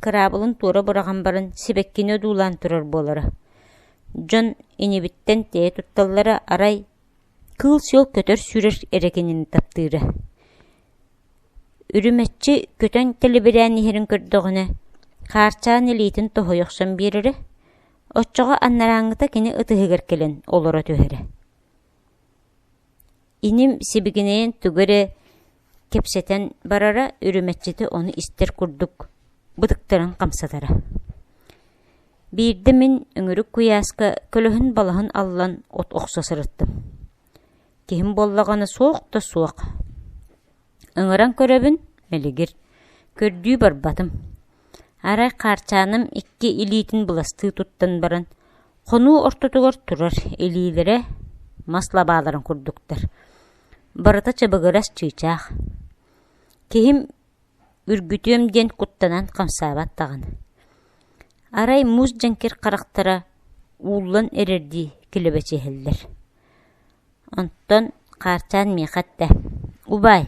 кыраабылын туора быраҕан баран сибэккини одуулаан турар буолара. Дьон инибиттэн тэйэ тутталлара арай кыыл-сиэл көтөр-сүүрэр эрэгинини таптыыра. Үрүмэччи көтөн тэлибирээн иһэрин көрдөҕүнэ, хаарчаан илиитин тоһуй охсон биэрэрэ, Оччоҕо аннарааҥҥыта кини ытыһыгар кэлэн олоро түһэрэ иним сибигинэйэн тугу эрэ кэпсэтэн барара үрүмэччитэ ону истэр курдук бытыктарын хамсатара биирдэ мин өҥүрүк куйааска көлөһүн балаһын аллан от охсо сырыттым Киһим буоллаҕына суох да суох Ыҥыран көрөбүн, мэлигир, көрдүү барбатым. Арай хаарчааным икки илиитин быластыы туттан баран, хонуу ортотугар турар илиилэрэ мас лабааларын курдуктар. Барыта чабыгырас чыычаах. Киһим Үргүтүөм диэн куттанан хамсаабат даҕаны, арай муус дьэҥкир харахтара ууллан эрэрдии килэбэчиһэллэр. Онтон хаарчаан миэхэ эттэ: «Убаай,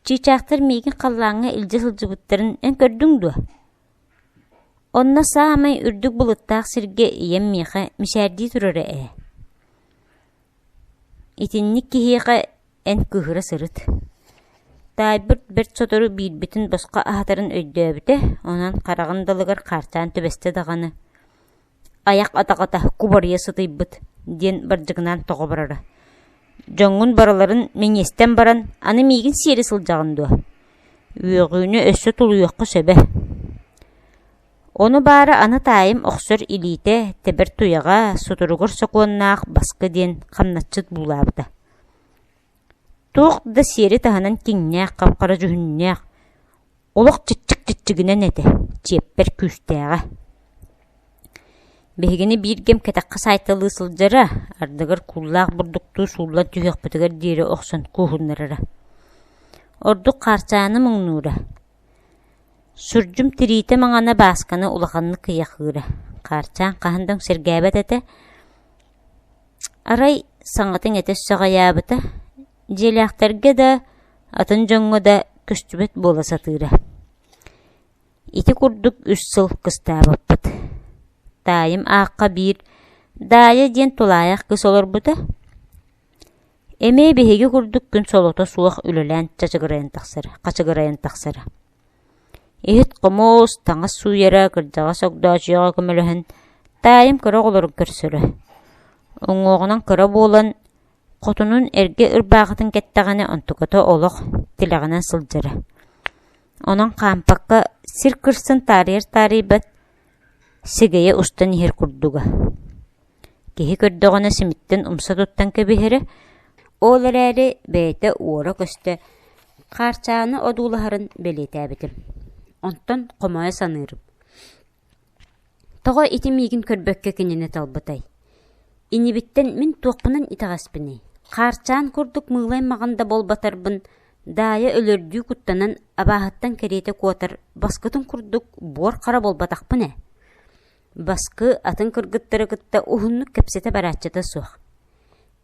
чыычаахтар миигин халлааҥҥа илдьэ сылдьыбыттарын эн көрдүҥ дуо?» Онно саамай үрдүк былыттаах сиргэ ийэм миэхэ мичээрдии турара ээ Итинник киһиэхэ эн кыыһыра сырыт таайбыт бэрт сотору биирбитин босхо аһатарын өйдөөбүтэ, онон хараҕын далыгар хаарчаан түбэстэ даҕаны «Айах атаҕата кубарыйа сытыйбыт» диэн бардьыгынаан тоҕо барара. «Дьоҥҥун барыларын мэҥиэстэн баран, аны миигин сиэри сылдьаҕын дуо? Үөҕүүнү өссө тулуйуохха сөбө» Ону баара аны таайым охсор илиитэ, тэбэр туйаҕа, сутуругар сокуоннаах баска диэн хамначчыт буулаабыта. Туох да сиэри таһынан киҥнээх, хапхара дьүһүннээх, олох чиччик-чиччигинэн этэ, чиэппэр күүстээҕэ. Биһигини бииргэм кэтэххэ саайталыы сылдьара, ардыгар кууллаах бурдуктуу сууллан түһүөхпүтүгэр диэри охсон кууһуннарара. Ордук хаарчааны муҥнуура, Сурдьум тириитэ маҥана Баасканы улаханнык кыйахыыра, хаарчаан хаһан да өҥсиргээбэт этэ, арай саҥатын этэ саҕайаабыта, дьиэлээхтэргэ да, атын дьоҥҥо да көстүбэт буола сатыыра. Ити курдук үс сыл кыстаабыппыт. Таайым аахха биир Даайа диэн тулаайах кыыс олорбута, Эмиэ биһиги курдук күн солото суох үлэлээн чачыгырайан тахсар, хачыгырайан тахсар иһит-хомуос, таҥас сууйара, кырдьаҕас огдоочуйаҕа көмөлөһөн, таайым кыра оҕолорун көрсөрө. Уҥуоҕунан кыра буолан, хотунун эргэ ырбаахытын кэттэҕинэ онтуката олох тилэҕинэн сылдьара. Онон хаампакка сир кырсын таарыйар таарыйбат, сигэйэ устан иһэр курдуга. Киһи көрдөҕүнэ симиттэн умса туттан кэбиһэрэ, ол эрээри бэйэтэ уора көстө, хаарчааны одуулаһарын бэлиэтээбитим. Онтон хомойо саныырым: «Тоҕо ити миигин көрбөккө кинини талбытай? Инибиттэн мин туохпунан итэҕэспиний? Хаарчаан курдук мыылай-маҕан да буолбатарбын, Даайа өлөрдүү куттанан, абааһыттан кэриэтэ куотар, баскытын курдук буор-хара буолбатахпын ээ» Баскы атын кыргыттары кытта уһуннук кэпсэтэ барааччыта суох.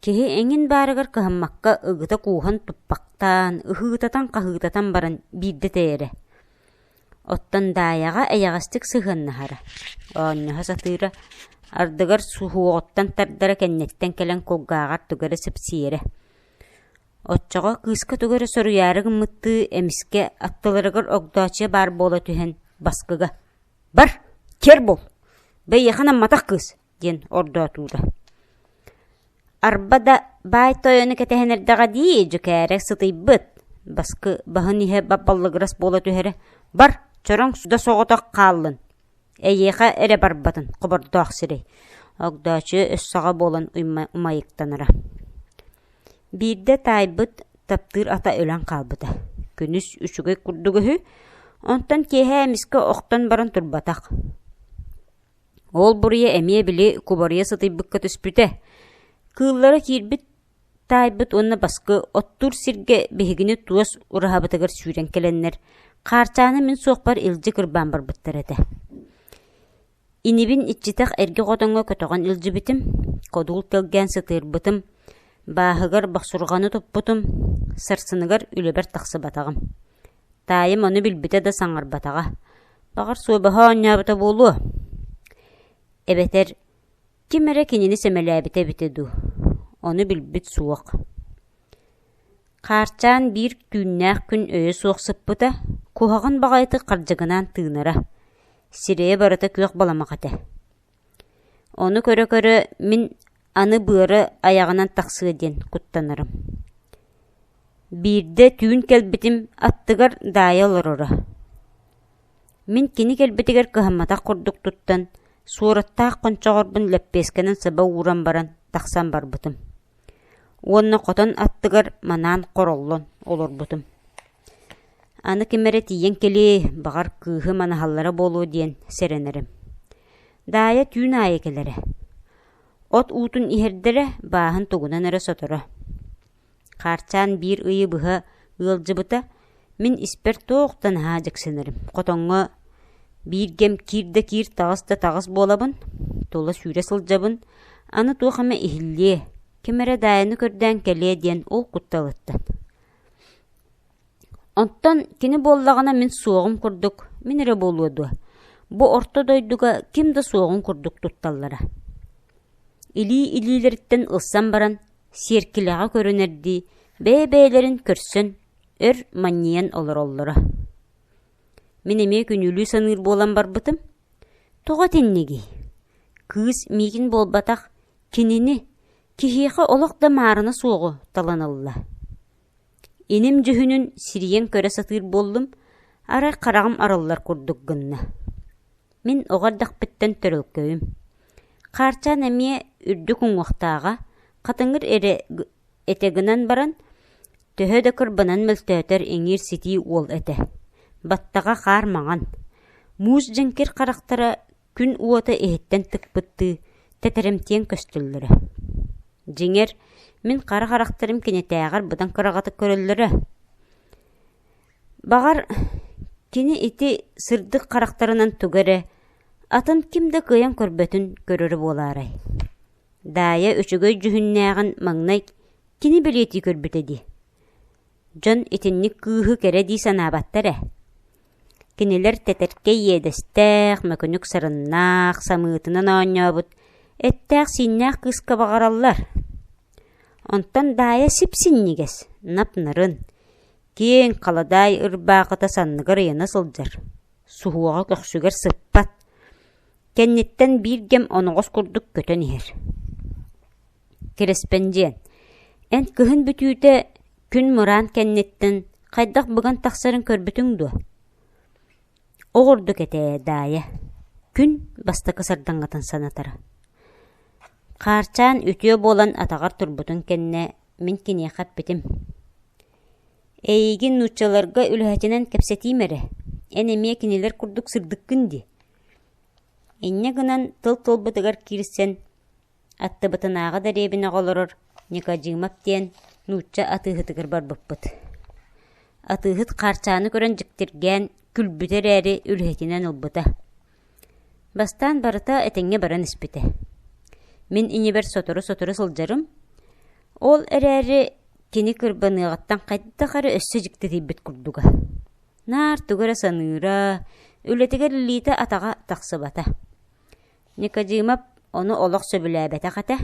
Киһи эҥин баарыгар кыһаммакка ыгыта кууһан туппахтаан, ыһыытатан-хаһыытатан баран биирдэ тэйэрэ. Оттон Даайаҕа эйэҕэстик сыһыаннаһара, оонньоһо сатыыра, ардыгар суһуоҕуттан тардара кэнниттэн кэлэн кулгааҕар тугу эрэ сипсиэрэ. Оччоҕо кыыска тугу эрэ соруйаары гыммыттыы, эмискэ аттыларыгар Огдооччуйа баар буола түһэн баскыга «Бар, көр буол, бэйиэхэ намматах кыыс» диэн ордоотуура. Арба да «Баай тойону кэтэһэн эрдэҕэ дии, дьүкээрэ сытыйбыт» баскы баһын иһэ баппаллыгырас буола түһэрэ «Бар, чороҥ да соҕотох хааллын, эйиэхэ эрэ барбатын хобордоох сирэй» Огдооччуйа өссөҕө буолан умайыктанара Биирдэ таайбыт таптыыр ата өлөн хаалбыта, күнүс үчүгэй курдук үһү, онтон киэһэ эмискэ охтон баран турбатах. Уол буруйа эмиэ били кубарыйа сытыйбыкка түспүтэ, кыыллара киирбит таайбыт уонна баскы оттуур сиргэ биһигини туос ураһабытыгар сүүрэн кэлэннэр, хаарчааны мин суохпар илдьи кырбаан барбыттар этэ. Инибин иччитэх эргэ хотоҥҥо көтөҕөн илдьибитим, кодул тэлгээн сытыырбытым, бааһыгар бохсурҕаны туппутум, сарсыныгар үлэбэр тахсыбатаҕым. Таайым ону билбитэ да саҥарбатаҕа, «Баҕар, суобаһа оонньообута буолуо?» эбэтэр Ким эрэ кинини сэмэлээбитэ эбитэ дуу, ону билбит суох Хаарчаан биир түүннээх күн өйө суох сыппыта, куһаҕан баҕайытык хардьыгынаан тыынара, сирэйэ барыта күөх баламах этэ. Ону көрө-көрө мин аны быара айаҕынан тахсыа диэн куттанарым. Биирдэ түүн кэлбитим аттыгар Даайа олороро. Мин кини кэлбитигэр кыһамматах курдук туттан, суораттаах хончоҕорбун лэппиэскэнэн сыба ууран баран, тахсан барбытым уонна хотон аттыгар манаан хороллон олорбутум. Аны ким эрэ тиийэн кэлиэй, баҕар, кыыһы манаһаллара буолуо диэн сэрэнэрим. Даайа түүн аайы кэлэрэ. От уутун иһэрдэрэ, бааһын тугунан эрэ соторо. Хаарчаан биир ыйы быһа ыалдьыбыта, мин испэр туохтан аһаа дьиксинэрим, хотоҥҥо бииргэм киир да киир, таҕыс да таҕыс буолабын, тула сүүрэ сылдьабын, аны туох эмэ иһиллиэ, ким эрэ Даайаны көрдөөн кэлиэ диэн ол кутталыттан Оттон кини буоллаҕына мин суоҕум курдук, мин эрэ буолуо дуо, бу орто дойдуга ким да суоҕун курдук тутталлара илии-илиилэриттэн ылсан баран, сиэркилэҕэ көрүнэрдии бэйэ-бэйэлэрин көрсөн, өр манньыйан олороллоро. Мин эмиэ күнүүлүү саныыр буолан барбытым, тоҕо итиннигий? Кыыс миигин буолбатах, кинини, киһиэхэ олох да маарына суоҕу талан ылла. Иним дьүһүнүн сирийэн көрө сатыыр буоллум, арай хараҕым арыллар курдук гынна. Мин оҕо эрдэхпиттэн төрөлкөйүм. Хаарчаан эмиэ үрдүк уҥуохтааҕа, хатыҥыр эрэ этэ гынан баран, төһө да кырбанан мөлтөөтөр иҥиир-ситии уол этэ. Баттаҕа хаар маҥан. Муус дьэҥкир харахтара күн уота иһиттэн тыкпыттыы тэтэрэмтиэн көстөллөрө дьиҥэр мин хара харахтарым кинитээҕэр быдан кыраҕатык көрөллөрө баҕар кини ити сырдык харахтарынан туга эрэ атын ким да кыайан көрбөтүн көрөрө буолаарай даайа үчүгэй дьүһүннээҕин маҥнай кини бэлиэтии көрбүтэ дии дьон итинник кыыһы кэрэ дии санаабаттар ээ Кинилэр тэтэркэй иэдэстээх, мөкүнүк сарыннаах, самыытынан оонньообут, эттээх-сииннээх кыыска баҕараллар. Онтон Даайа сип-синньигэс, нап-нарын, киэҥ халадаай ырбаахыта санныгар ыйана сылдьар, суһуоҕа көхсүгэр сыппат. Кэнниттэн биир кэм оноҕос курдук көтөн иһэр. Кириспэндиэн, эн кыһын бүтүүтэ күн мыраан кэнниттэн хайдах быган тахсарын көрбүтүҥ дуо? Ол ордук этээ, Даайа. Күн бастакы сардаҥатын санатара. Хаарчаан үтүө буолан атаҕар турбутун кэннэ мин киниэхэ эппитим. Эйигин нууччаларга үлэһитинэн кэпсэтиим эрэ, эн эмиэ кинилэр курдук сырдыккын дии. Инньэ гынан тыл тылбытыгар киирсэн, аттыбытынааҕы дэриэбинэҕэ олорор Никодимов диэн нуучча атыыһытыгар барбыппыт. Атыыһыт хаарчааны көрөн дьиктиргээн, күлбүтэ эрээри, үлэһитинэн ылбыта. Бастаан барыта этэҥҥэ баран испитэ. Мин инибэр сотору-сотору сылдьарым, ол эрээри кини кырбаныаҕыттан хайдах эрэ өссө дьиктитийбит курдуга. Наар тугу эрэ саныыра, үлэтигэр илиитэ-атаҕа тахсыбата. Никодимов ону олох сөбүлээбэтэх этэ.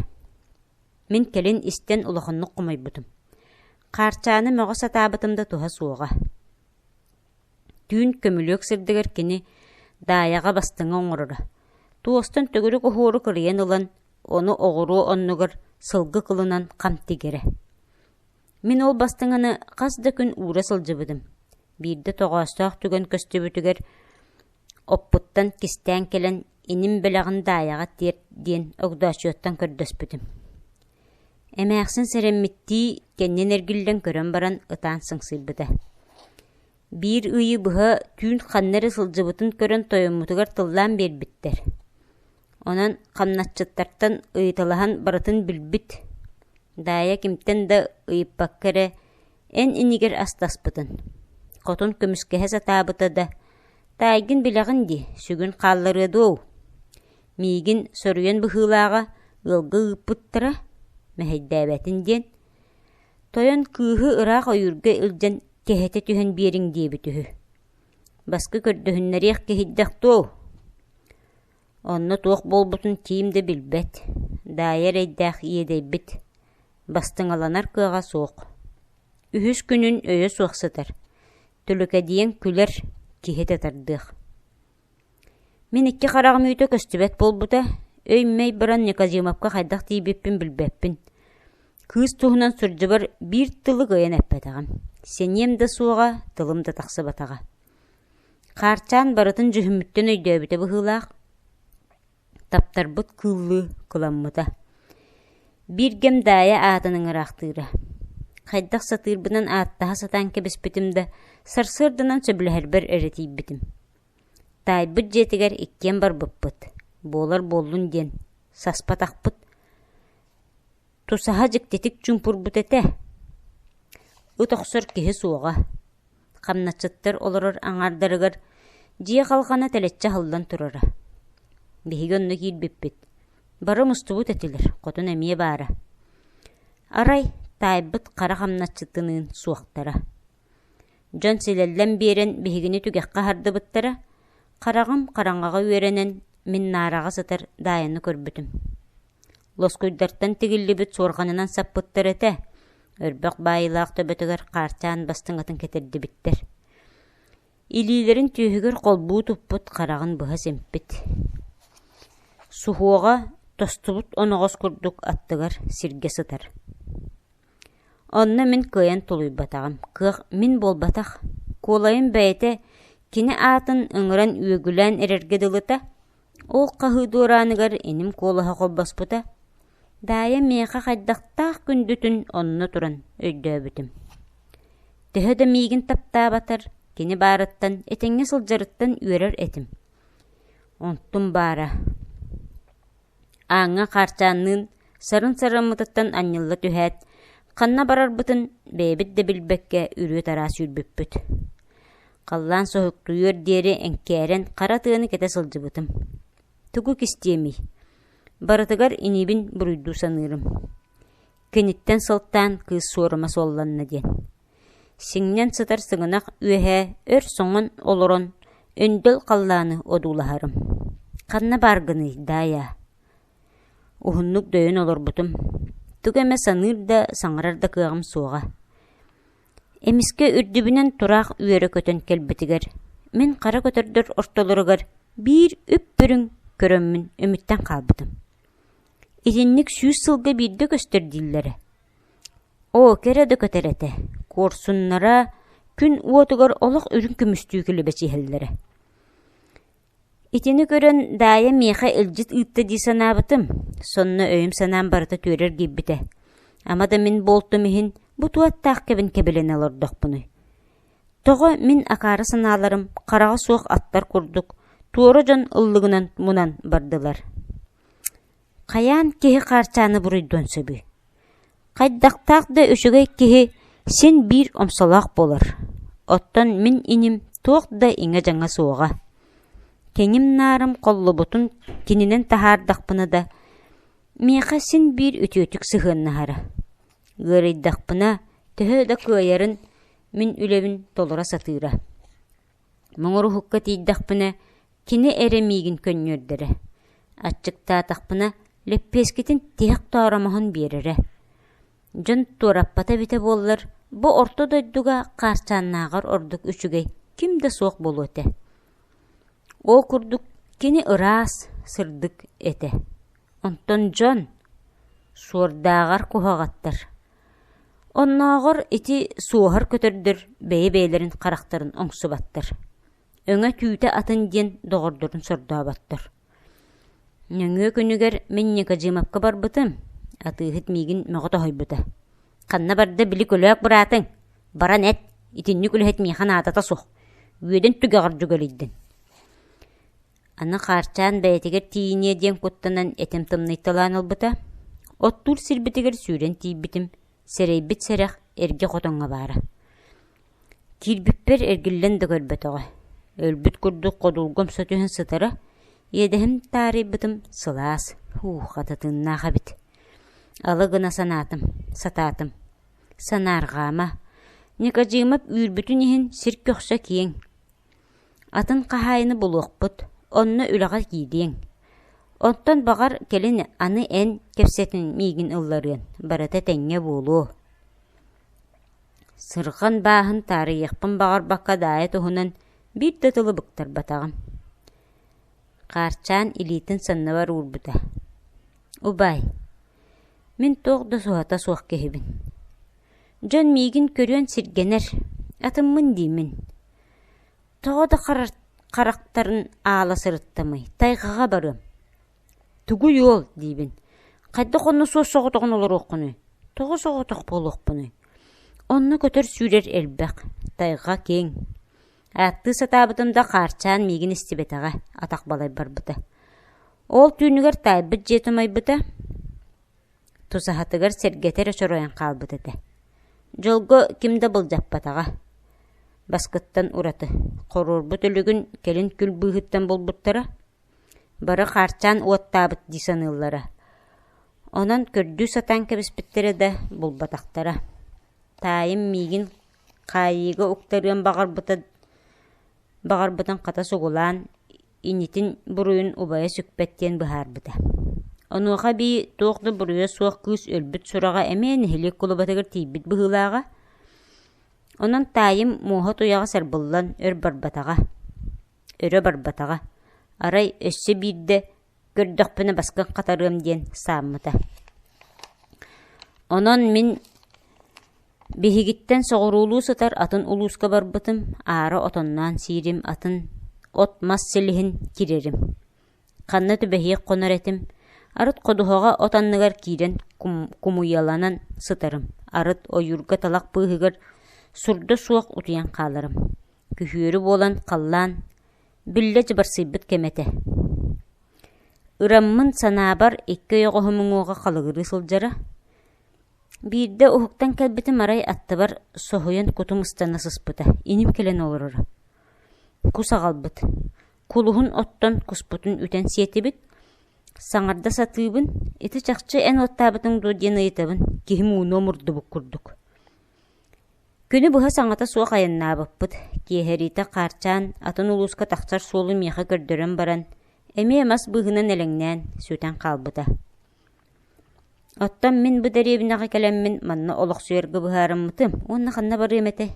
Мин кэлин истэн улаханнык хомойбутум. Хаарчааны мөҕө сатаабытым да туһа суоҕа. Түүн көмүлүөк сирдигэр кини Даайаҕа бастыҥа оҥороро. Туостан төгүрүк оһуору кырыйан ылан, ону оҕуруо оннугар сылгы кылынан хам тигэрэ. Мин ол бастыҥаны хас да күн уура сылдьыбытым. Биирдэ тоҕоостоох түгэн көстүбүтүгэр оппуттан кистээн кэлэн иним бэлэҕин Даайаҕа тиэр диэн огдооччуттан көрдөспүтүм. Эмээхсин сэрэммиттии кэннин эргиллэн көрөн баран ытаан сыҥсыйбыта. Биир ыйы быһа түүн ханна эрэ сылдьыбытын көрөн тойоммутугар тыллаан биэрбиттэр. Онон хамначчыттартан ыйыталаһан барытын билбит, Даайа кимтэн да ыйыппакка эрэ эн инигир астаспытын, хотун көмүскэһэ сатаабыта да, «Таайгын билэҕин дии, сүгүн хаалларыа дуоу?» Миигин соруйан быһыылааҕа ыалга ыыппыттара, мэһэйдээбэтин диэн, тойон кыыһы ыраах ойуурга илдьэн кэһэтэ түһэн биэриҥ диэбит үһү. Баска көрдөһүннэриэх киһийдэх дуоу Онно туох буолбутун ким да билбэт, Даайа эрэйдээх иэдэйбит, бастыҥаланар кыаҕа суох. Үһүс күнүн өйө суох сытар, түлүкэдийэн күлэр, киһи да тардыах. Мин икки хараҕым үүтэ көстүбэт буолбута, өй-мэй баран Никодимовка хайдах тиийбиппин билбэппин. Кыыс туһунан сурдьубар биир тылы кыайан эппэтэҕим, синиэм да суоҕа, тылым да тахсыбатаҕа. Хаарчаан барытын дьүһүммүттэн өйдөөбүтэ быһыылаах, таптарбыт кыыллыы кыламмыта. Биир кэм Даайа аатын ыҥыраахтыыра. Хайдах сатыырбынан ааттаһа сатаан кэбиспитим да, сарсыарданан сөбүлэһэрбэр эрэ тиийбитим. Таайбыт дьиэтигэр иккиэн барбыппыт, буолар буоллун диэн, саспатахпыт. Тусаһа дьиктитик чуумпурбут этэ. Ыт охсор киһи суоҕа. хамначчыттар олорор аҥаардарыгар дьиэ халҕана тэлэччи аһыллан турара. Биһиги онно киирбиппит. Бары мустубут этилэр, хотун эмиэ баара. Арай таайбыт хара хамначчытыныын суохтара. Дьон силэллэн биэрэн биһигини түгэххэ аһардыбыттара, хараҕым хараҥаҕа үөрэнэн мин наараҕа сытар даайаны көрбүтүм. Лоскуйдартан тигиллибит суорҕанынан саппыттар этэ, өрбөх баайыылаах төбөтүгэр хаарчаан бастыҥ атын кэтэрдибиттэр. Илиилэрин түөһүгэр холбуу туппут хараҕын быһа симпит. Суһуоҕа тостубут оноҕос курдук аттыгар сиргэ сытар. Онно мин кыайан тулуйбатаҕым, кыах мин буолбатах. Куолайым бэйэтэ кини аатын өҥөрөн үөгүлээн эрэргэ дылыта, Ол хаһыы дуорааныгар иним куолаһа холбоспута, Даайа миэхэ хайдахтаах күндүтүн онно туран өйдөөбүтүм. Төһө да миигин таптаабатар, кини баарыттан этэҥҥэ сылдьарыттан үөрэр этим. Онтум баара. Ааҥҥа хаарчаанныын сарын-сарыммытыттан анньылла түһээт, ханна барарбытын бэйэбит да билбэккэ үрүө-тараа сүүрбүппүт. халлаан соһуктуйуор диэри эҥкээрэн хара тыаны кэтэ сылдьыбытым. Тугу кистиэмий? Барытыгар иниибин буруйдуу саныырым. Киниттэн сылтаан кыыс суорума суолланна диэн. Сиҥнэн сытар сыгынах үөһэ өр соҥон олорон өндөл халлааны одуулаһарым. Ханна баар гыный, Даайа? Уһуннук дөйөн олорбутум. Тугу эмэ саныыр да, саҥарар да кыаҕым суоҕа. Эмискэ үрдүбүнэн тураах үөрэ көтөн кэлбитигэр, мин хара көтөрдөр ортолоругар биир үп-бүрүҥ көрөммүн үмүттэн хаалбытым. Итинник сүүс сылга биирдэ көстөр дииллэрэ. Оо, кэрэ да көтөр этэ, куорсуннара күн уотугар олох үрүҥ көмүстүү кэлэ бэчиэһэллэрэ Итини көрөн Даайа миэхэ илдьит ыытта дии санаабытым, сонно өйүм-санаам барыта түөрэр киирбитэ, ама да мин буолтум иһин бу ту аттаах кэбин кэбилэнэ олордохпунуй? Тоҕо мин акаары санааларым хараҕа суох аттар курдук, туора дьон ыллыгынан мунан бардылар Хайаан киһи хаарчааны буруйдуон сөбүй? Хайдахтаах да үчүгэй киһи син биир омсолоох буолар. Оттон мин иним туох да иҥэ-дьаҥа суоҕа. Кэҥим наарым холлубутун кининэн таһаардахпына да, миэхэ син биир үтүөтүк сыһыаннаһара. Ыарыйдахпына, төһө да кыайарын, мин үлэбин толоро сатыыра. Муҥуруһукка тиийдэхпинэ, кини эрэ миигин көнньүөрдэрэ, аччыктаатахпына, лэппиэскитин тиһэх тооромоһун биэрэрэ. Дьон туораппата эбитэ буоллар, бу орто дойдуга хаарчааннааҕар ордук үчүгэй ким да суох буолуо этэ. Ол курдук кини ыраас, сырдык этэ. Онтон дьон, Суордааҕар куһаҕаттар, Оннооҕор ити суоһар көтөрдөр бэйэ-бэйэлэрин харахтарын оҥсубаттар, өҥө түүтэ атын диэн доҕордорун сордооботтор. Нөҥүө күнүгэр мин Никодимовка барбытым, атыыһыт миигин мөҕө тоһуйбута: «Ханна барда били көлөөк быраатыҥ? Баран эт, итинник үлэһит миэхэ наадата суох, үөдэн түгэҕэр дьүгэлийдин» аны хаарчаан бэйэтигэр тиийиниэ диэн куттанан этим тымныйталаан ылбыта, оттуур сирбитигэр сүүрэн тиийбитим, сэрэйбит сэрэх эргэ хотоҥҥо баара. Киирбиппэр эргиллэн да көрбөтөҕө. Өлбүт курдук ходулга умса түһэн сытара, иэдэһим таарыйбытым сылаас, уу хата тыыннаах эбит. Алы гына санаатым, сатаатым. Санаарҕаама, Никодимов үүрбүтүн иһин сир көхсө киэҥ, Атын хаһаайыны булуохпут, онно үлэҕэ киириэҥ. Оттон баҕар, кэлин аны эн кэпсэтин миигин ылларыан, барыта тэҥҥэ буолуо. Сырҕан бааһын таарыйыахпын баҕарбакка даайа туһунан биир да тылы быктарбатаҕым. Хаарчаан илиитин санныбар уурбута. «Убай, мин туох да суһата суох киһибин. Дьон миигин көрүөн сиргэнэр, атыммын диимин. Тоҕо да харахтарын аала сырыттамый, тайҕаҕа барыам. Тугуй уол диибин. Хайдах онно суос соҕотоҕун олоруоххунуй? Тоҕо соҕотох буолуохпунуй? Онно көтөр-сүүрэр элбэх, тайҕа киэҥ. Ааттыы сатаабытым да хаарчаан миигин истибэтэҕэ, атах балай барбыта. Ол түүнүгэр таайбыт дьиэ тумайбыта, тусаһатыгар сэргэтэр очоройон хаалбыт этэ. Дьолго ким да былдьаппатаҕа. Баскыттан ураты, хоруорбут өлүгүн кэлин күл быыһыттан булбуттара, бары хаарчаан уоттаабыт дии саныыллара. Онон көрдүү сатаан кэбиспиттэрэ да булбатахтара. Таайым миигин хаайыыга уктарыан баҕарбыта баҕарбытын хата сугулаан, инитин буруйун убайа сүкпэт диэн быһаарбыта. Онуоха эбии туох да буруйа суох кыыс өлбүт сураҕа эмиэ нэһилиэк кулубатыгар тиийбит быһыылааҕа. Онон таайым муоһа туйаҕа сарбыллан өр барбатаҕа, өрө барбатаҕа, арай өссө биирдэ көрдөхпүнэ баскын хатарыам диэн сааммыта. Онон мин Биһигиттэн соҕуруулуу сытар атын улууска барбытым, аара отонноон сиирим, атын от-мас силиһин кирэрим. Ханна түбэһиэх хонор этим, арыт ходуһаҕа от анныгар киирэн кумуйаланан сытарым, арыт ойуурга талах быыһыгар сурда суох утуйан хааларым. Күһүөрү буолан халлаан биллэ дьыбарсыйбыт кэмэ этэ. Ыраммын санаабар икки ойоҕоһум уҥуоҕа халыгырыы сылдьара, Биирдэ уһуктан кэлбитим арай аттыбар соһуйан кутум ыстана сыспыта, иним кэлэн олороро. Кус аҕалбыт, кулуһун оттон куспутун үтэн сиэтибит, саҥарда сатыыбын, ити чахчы эн уоттаабытыҥ дуо диэн ыйытабын, киһим ууну омурдубут курдук. Күнү быһа саҥата суох айаннаабыппыт, киэһэриитэ хаарчаан атын улууска тахсар суолу миэхэ көрдөрөн баран, эмиэ мас быыһынан элэҥнээн, сүтэн хаалбыта. Оттон мин бу дэриэбинэҕэ кэлэммин манна олохсуйарга быһаарыммытым уонна ханна барыам этэй?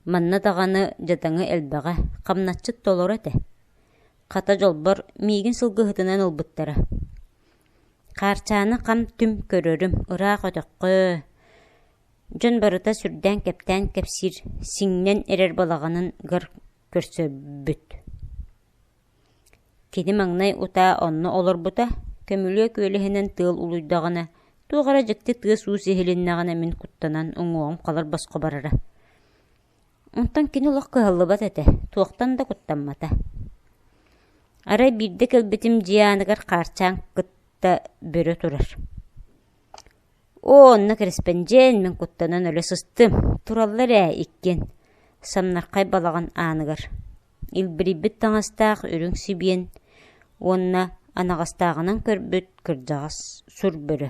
Манна даҕаны дьадаҥы элбэҕэ, хамначчыт толору этэ. Хата дьолбор миигин сылгыһытынан ылбыттара. Хаарчааны хам-түм көрөрүм, ыраах өтөххө, дьон барыта сүрдээн-кэптээн кэпсиир, сиҥнэн эрэр балаҕанын гар көрсөрбүт Кини маҥнай утаа онно олорбута, көмүлүөк күөлэһинэн тыал улуйдаҕына, туох эрэ дьикти тыас-уус иһилиннэҕинэ мин куттанан уҥуоҕум халыр босхо барара. Онтон кини олох кыһаллыбат этэ, туохтан да куттаммата. Арай биирдэ кэлбитим дьиэ ааныгар хаарчаан кытта бөрө турар. «Оо, онно кэрэспэндьиэн, мин куттанан өлө сыстым, тураллар ээ иккиэн», Самнархай балаҕан ааныгар илбирийбит таҥастаах үрүҥ сибиэн уонна анаҕастааҕынан көрбүт кырдьаҕас сур бөрө.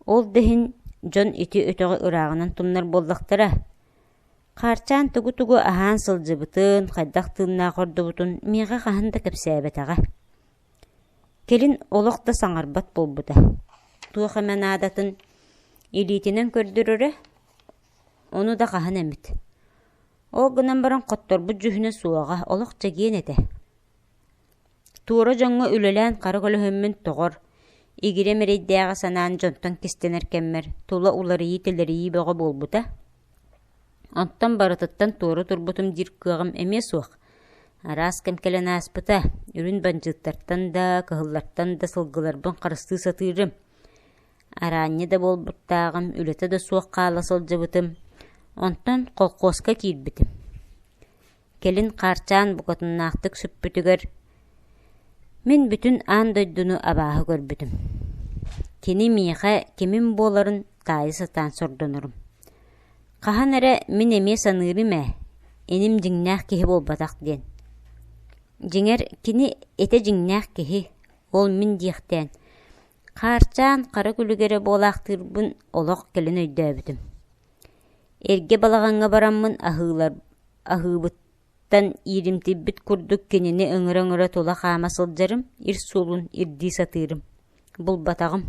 Ол да иһин дьон ити өтөҕү ырааҕынан тумнар буоллахтара. Хаарчаан тугу-тугу аһаан сылдьыбытын, хайдах тыыннаах ордубутун миэхэ хаһан да кэпсээбэтэҕэ. Кэлин олох да саҥарбат буолбута. Туох эмэ наадатын илиитинэн көрдөрөрө, ону да хаһан эмит. Ол гынан баран хотторбут дьүһүнэ суоҕа, олох чэгиэн этэ. Туора дьоҥҥо үлэлээн хара көлөһүммүн тоҕор, игирэм эрэйдээҕи санаан дьонтон кистэнэр кэммэр тула уларыйыы-тэлэрийии бөҕө буолбута. Онтон барытыттан туора турбутум диир кыаҕым эмиэ суох. Араас кэм кэлэн ааспыта, үрүн бандьыыттартан да, кыһыллартан да сылгыларбын харыстыы сатыырым. Араанньы да буолбуттааҕым, үлэтэ да суох хаала сылдьыбытым, онтон колхуоска киирбитим. Кэлин хаарчаан букатыннаахтык сүппүтүгэр, мин бүтүн аан дойдуну абааһы көрбүтүм. Кини миэхэ кимим буоларын таайа сатаан сордонорум. Хаһан эрэ мин эмиэ саныырым ээ, иним дьиҥнээх киһи буолбатах диэн. Дьиҥэр, кини этэ дьиҥнээх киһи, ол мин диэхтээн, Хаарчаан хара күлүгэрэ буолаахтыырбын олох кэлин өйдөөбүтүм. Эргэ балаҕаҥҥа бараммын аһыылар аһыыбыттан ииримтийбит курдук кинини өҥөрө-өҥөрө тула хаама сылдьарым, ир суолун ирдии сатыырым. Булбатаҕым.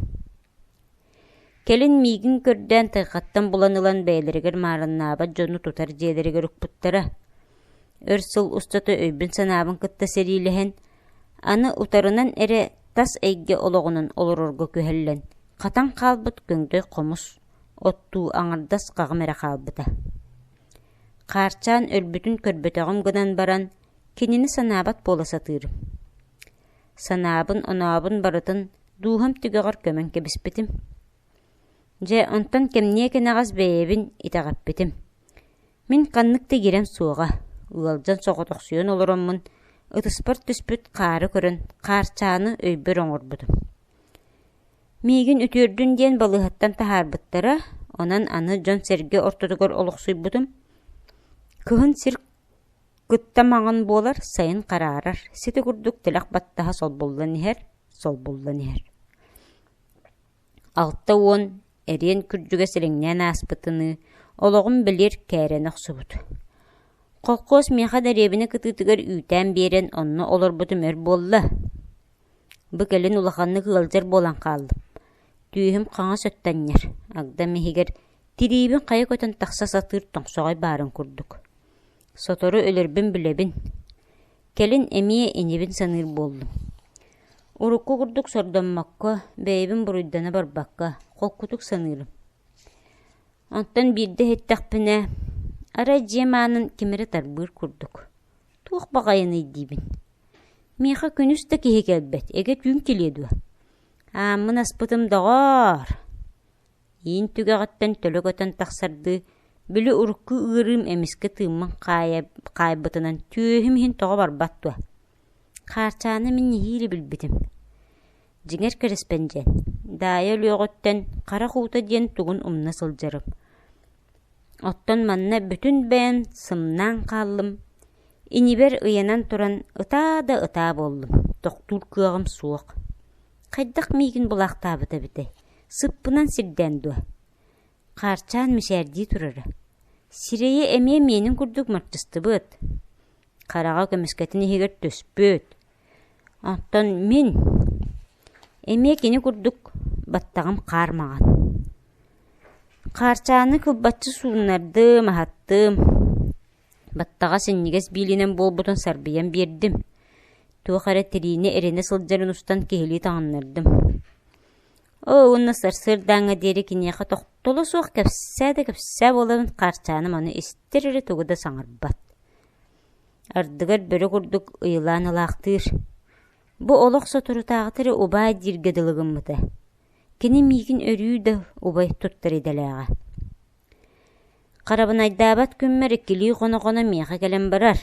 Кэлин миигин көрдөөн тайҕаттан булан ылан бэйэлэригэр маарыннаабат дьону тутар дьиэлэригэр укпуттара. Өр сыл устата өйбүн-санаабын кытта сэриилэһэн, аны утарынан эрэ тас эйгэ олоҕунан олорорго күһэллэн, хатан хаалбыт көҥдөй хомус, оттуу аҥардас хаҕым эрэ хаалбыта. Хаарчаан өлбүтүн көрбөтөҕүм гынан баран, кинини санаабат буола сатыырым. Санаабын, онообун барытын дууһам түгэҕэр көмөн кэбиспитим. Дьэ, онтон кэмниэ кэнэҕэс бэйэбин итэҕэппитим. Мин ханнык да гирем суоҕа, ыалдьан соҕотохсуйан олороммун, ытыспар түспүт хаары көрөн, хаарчааны өйбөр оҥорбутум. Миигин үтүөрдүн диэн балыыһаттан таһаарбыттара, онон аны дьон-сэргэ ортотугар олохсуйбутум. Кыһын сир кытта маҥан буолар, сайын хараарар, сити курдук тэлэх баттаһа солбуллан иһэр, солбуллан иһэр Алта уон эриэн күрдьүгэ силиҥнээн ааспытыныы, олоҕум билир кээрэнэ охсубут Холкуос миэхэ дэриэбинэ кытыытыгар үүтээн биэрэн онно олорбутум өр буолла. Бу кэлин улаханнык ыалдьар буолан хааллым. Түүһүм хаҥас өттөннөр, Агдам иһигэр тириибин хайа көтөн тахса сатыыр тоҥсоҕой баарын курдук. Сотору өлөрбүн билэбин. Кэлин эмиэ инибин саныыр буоллум. Урукку курдук сордоммокко, бэйэбин буруйдана барбакка, холкутук саныырым. Онтон биирдэ эттэхпинэ, арай дьиэм аанын ким эрэ тарбыыр курдук. Туох баҕайыный диибин. Миэхэ күнүс да киһи кэлбэт, эгэ түүн килиэ дуо? Ааммын аспытым доҕоор! иин түгэҕиттэн төлө көтөн тахсардыы, били урукку ыарыым эмискэ тыыммын хаайбытынан түөһүм иһин тоҕо барбат дуо? Хаарчааны мин нэһиилэ билбитим Дьиҥэр кэрэспэндьиэн, Даайа өлүөҕүттэн харах уута диэн тугун умна сылдьарым. Оттон манна бүтүн бэйэм сымнаан хааллым, инибэр ыйанан туран ытаа да ытаа буоллум, тохтуур кыаҕым суох Хайдах миигин булаахтаабыт эбитэй? Сыппынан сирдээн дуо? Хаарчаан мичээрдии турара. Сирэйэ эмиэ миэнин курдук мартыстыбыт. Хараҕа көмүскэтин иһигэр түспүт. Оттон мин эмиэ кини курдук баттаҕым хаар маҕан. Хаарчааны кылбаччы сууннардым, аһаттым. Баттаҕа синньигэс биилинэн буолбутун сарбыйан биэрдим, туох эрэ тириини эринэ сылдьарын устан киһилии таҥыннардым «Оо, уонна сарсыардааҥҥа диэри киниэхэ тохтоло суох кэпсээ да кэпсээ буоларын Хаарчаанам аны истэр эрэ тугу да саҥарбат Ардыгар бөрө курдук ыйылаан ылаахтыыр Бу олох соторутааҕыта эрэ убаай дииргэ дылы гыммыта Кини миигин өрүү да убай туттар идэлээҕэ Харабынайдаабат күммэр иккилии хоно-хоно миэхэ кэлэн барар,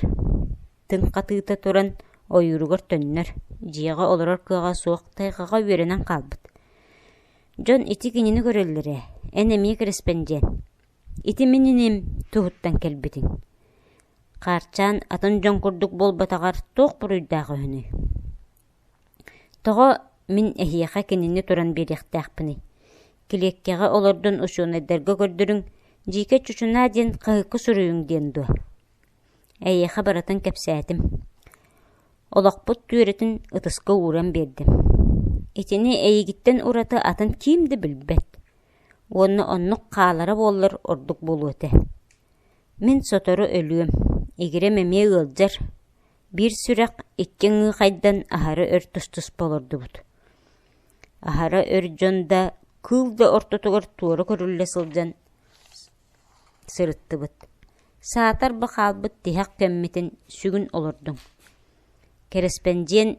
тыҥ хатыыта туран ойууругар төннөр, дьиэҕэ олорор кыаҕа суох тайҕаҕа үөрэнэн хаалбыт. Дьон ити кинини көрөллөр ээ, эн эмиэ кэрэспэндиэн, ити мин иним туһуттан кэлбитиҥ. Хаарчаан атын дьон курдук буолбатаҕар туох буруйдаах үһүнүй? Тоҕо мин эһиэхэ кинини туран биэриэхтээхпиний? Килиэккэҕэ олордон учуонайдарга көрдөрүҥ, дьиикэ чучунаа диэн хаһыакка суруйуҥ диэн дуо? Эйиэхэ барытын кэпсээтим. Олохпут түөрэтин ытыска ууран биэрдим. Итини эйигиттэн ураты атын ким да билбэт. Уонна оннук хаалара буоллар ордук буолуо этэ. Мин сотору өлүөм, игирэм эмиэ ыалдьар, Биир сүрэх икки ыҥыыхайдан аһары өр тус-туспа олордубут. Аһара өр дьон да кыыл да ортотугар туора көрүллэ сылдьан сырыттыбыт. Саатар ба хаалбыт тиһэх көммүтүн сүгүн олордуҥ. Кэрэспэндиэн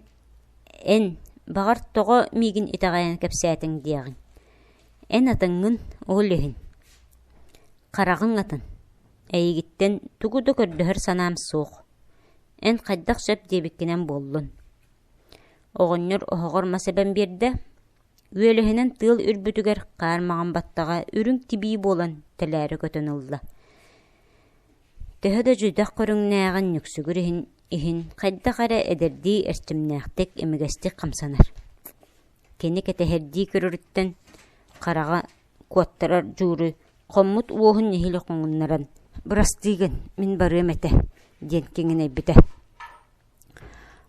эн, баҕар, тоҕо миигин итэҕэйэн кэпсээтиҥ диэҕиҥ. Эн атыҥҥын, ол иһин. Хараҕыҥ атын. Эйигиттэн тугу да көрдөһөр санаам суох. Эн хайдах сөп диэбиккинэн буоллун. Оҕонньор оһоҕор мас эбэн биэрдэ. Үөлэһинэн тыал үрбүтүгэр хаар маҕан баттаҕа үрүҥ тибии буолан тэлээрэ көтөн ылла. Төһө да дьүдэх көрүҥнээҕин нүксүгүр иһин, иһин хайдах эрэ эдэрдии эрчимнээхтик, имигэстик хамсанар. Кини кэтэһэрдии көрөрүттэн хараҕа куоттарар дьууру хоммут уоһун нэһиилэ хоҥуннаран «Бырастыы гын, мин барыам этэ» диэн киҥинэйбитэ.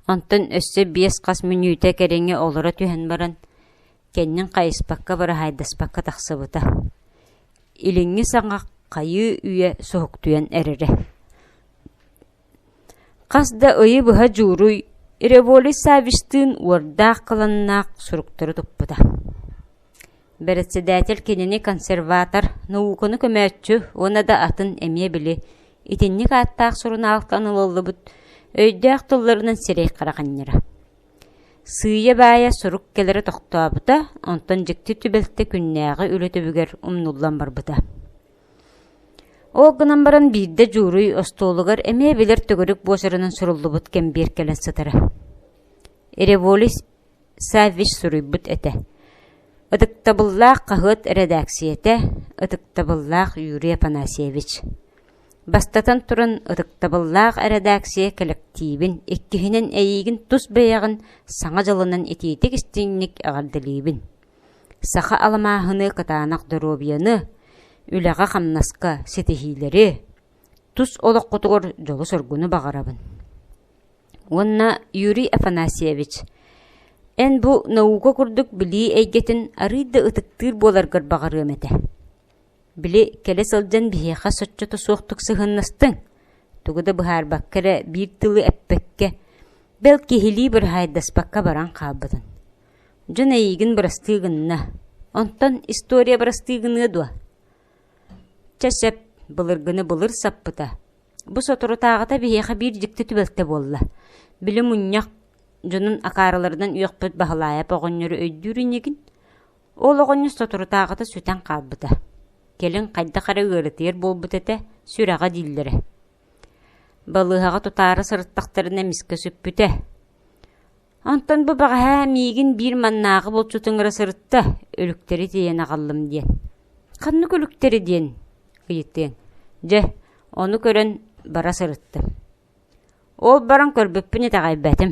Онтон өссө биэс-хас мүнүүтэ кэриҥэ олоро түһэн баран, кэннин хайыспакка быраһаайдаспакка тахсыбыта. Илиҥҥи саҥа хайыы үйэ суһуктуйан эрэрэ Хас да ыйы быһа дьууруй Революй Саввичтыын уордаах кыланнаах суруктары туппута. Бэрэссэдээтэл кинини консерватор, науканы көмөөччү уонна да атын эмиэ били итинник ааттаах сурунаалтан ылыллыбыт өйдөөх тылларынан сирэй-хара ханньара. Сыыйа-баайа сурук кэлэрэ тохтообута, онтон дьикти түбэлтэ күннээҕи үлэ түбүгэр умнуллан барбыта. Ол гынан баран биирдэ дьууруй остуолугар эмиэ билэр төгүрүк буочаранан суруллубут кэмбиэр кэлэн сытара. Революс Саввич суруйбут этэ. Ытыктабыллаах хаһыат эрэдээксийэтэ, ытыктабыллаах Юрий Афанасьевич. Бастатан туран, ытыктабыллаах эрэдээксийэ кэлэктиибин иккиһинэн эйиигин тус бэйэҕин саҥа дьылынан итиитик истиҥник эҕэрдэлиибин. Саха алмааһыны кытаанах доруобуйаны, үлэҕэ-хамнаска ситиһиилэри, тус олоххутугар дьолу-соргуну баҕарабын. Уонна Юрий Афанасьевич, эн бу наука курдук билии эйгэтин арыый да ытыктыыр буоларгар баҕарыам этэ. Били кэлэ сылдьан биһиэхэ соччото суохтук сыһыаннастыҥ, тугу да быһаарбакка эрэ биир тылы эппэккэ, бэл киһилии быраһаайдаспакка баран хаалбытын. Дьон эйиигин бырастыы гынна, онтон история бырастыы гыныа дуо? Чэ сөп, былыргыны былыр саппыта. Бу соторутааҕыта биһиэхэ биир дьикти түбэлтэ буолла. Били мунньах дьонун акаарыларынан үөхпүт Баһылаайап оҕонньору өйдүүр иннигин? Ол оҕонньор соторутааҕыта сүтэн хаалбыта. Кэлин хайдах эрэ ыарытыйар буолбут этэ, сүрэҕэ дииллэрэ. Балыыһаҕа тутаары сырыттахтарына эмискэ сүппүтэ. Онтон бу бэҕэһээ миигин биир маннааҕы булчутуҥара сырытта, үлүктэри тиэйэн аҕаллым диэн. «Ханнык үлүктэри диэн?» ыйытыаҥ. Дьэ, ону көрөн бара сырыттым. Ол баран көрбүппүн итэҕэйбэтим.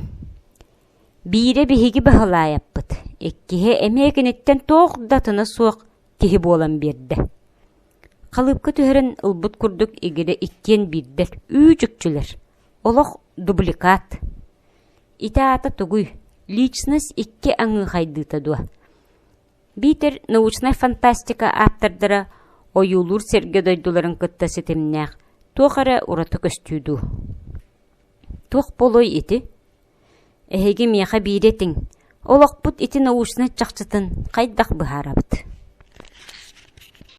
Биирэ биһиги Баһылаайаппыт, иккиһэ эмиэ киниттэн туох да тына суох киһи буолан биэрдэ. Халыыпка түһэрин ылбыт курдук игирэ иккиэн биирдэр «Ү чүкчүлэр» олох дубликат. Ити аата тугуй? Личность икки аҥыы хайдыыта дуо? Биитэр научнай фантастика ааптардара ойуулуур сэргэ дойдуларын кытта ситимнээх туох эрэ ураты көстүү дуу? Туох буолуой ити? Эһиги миэхэ биири этиҥ, олохпут ити научнай чахчытын хайдах быһаарабыт?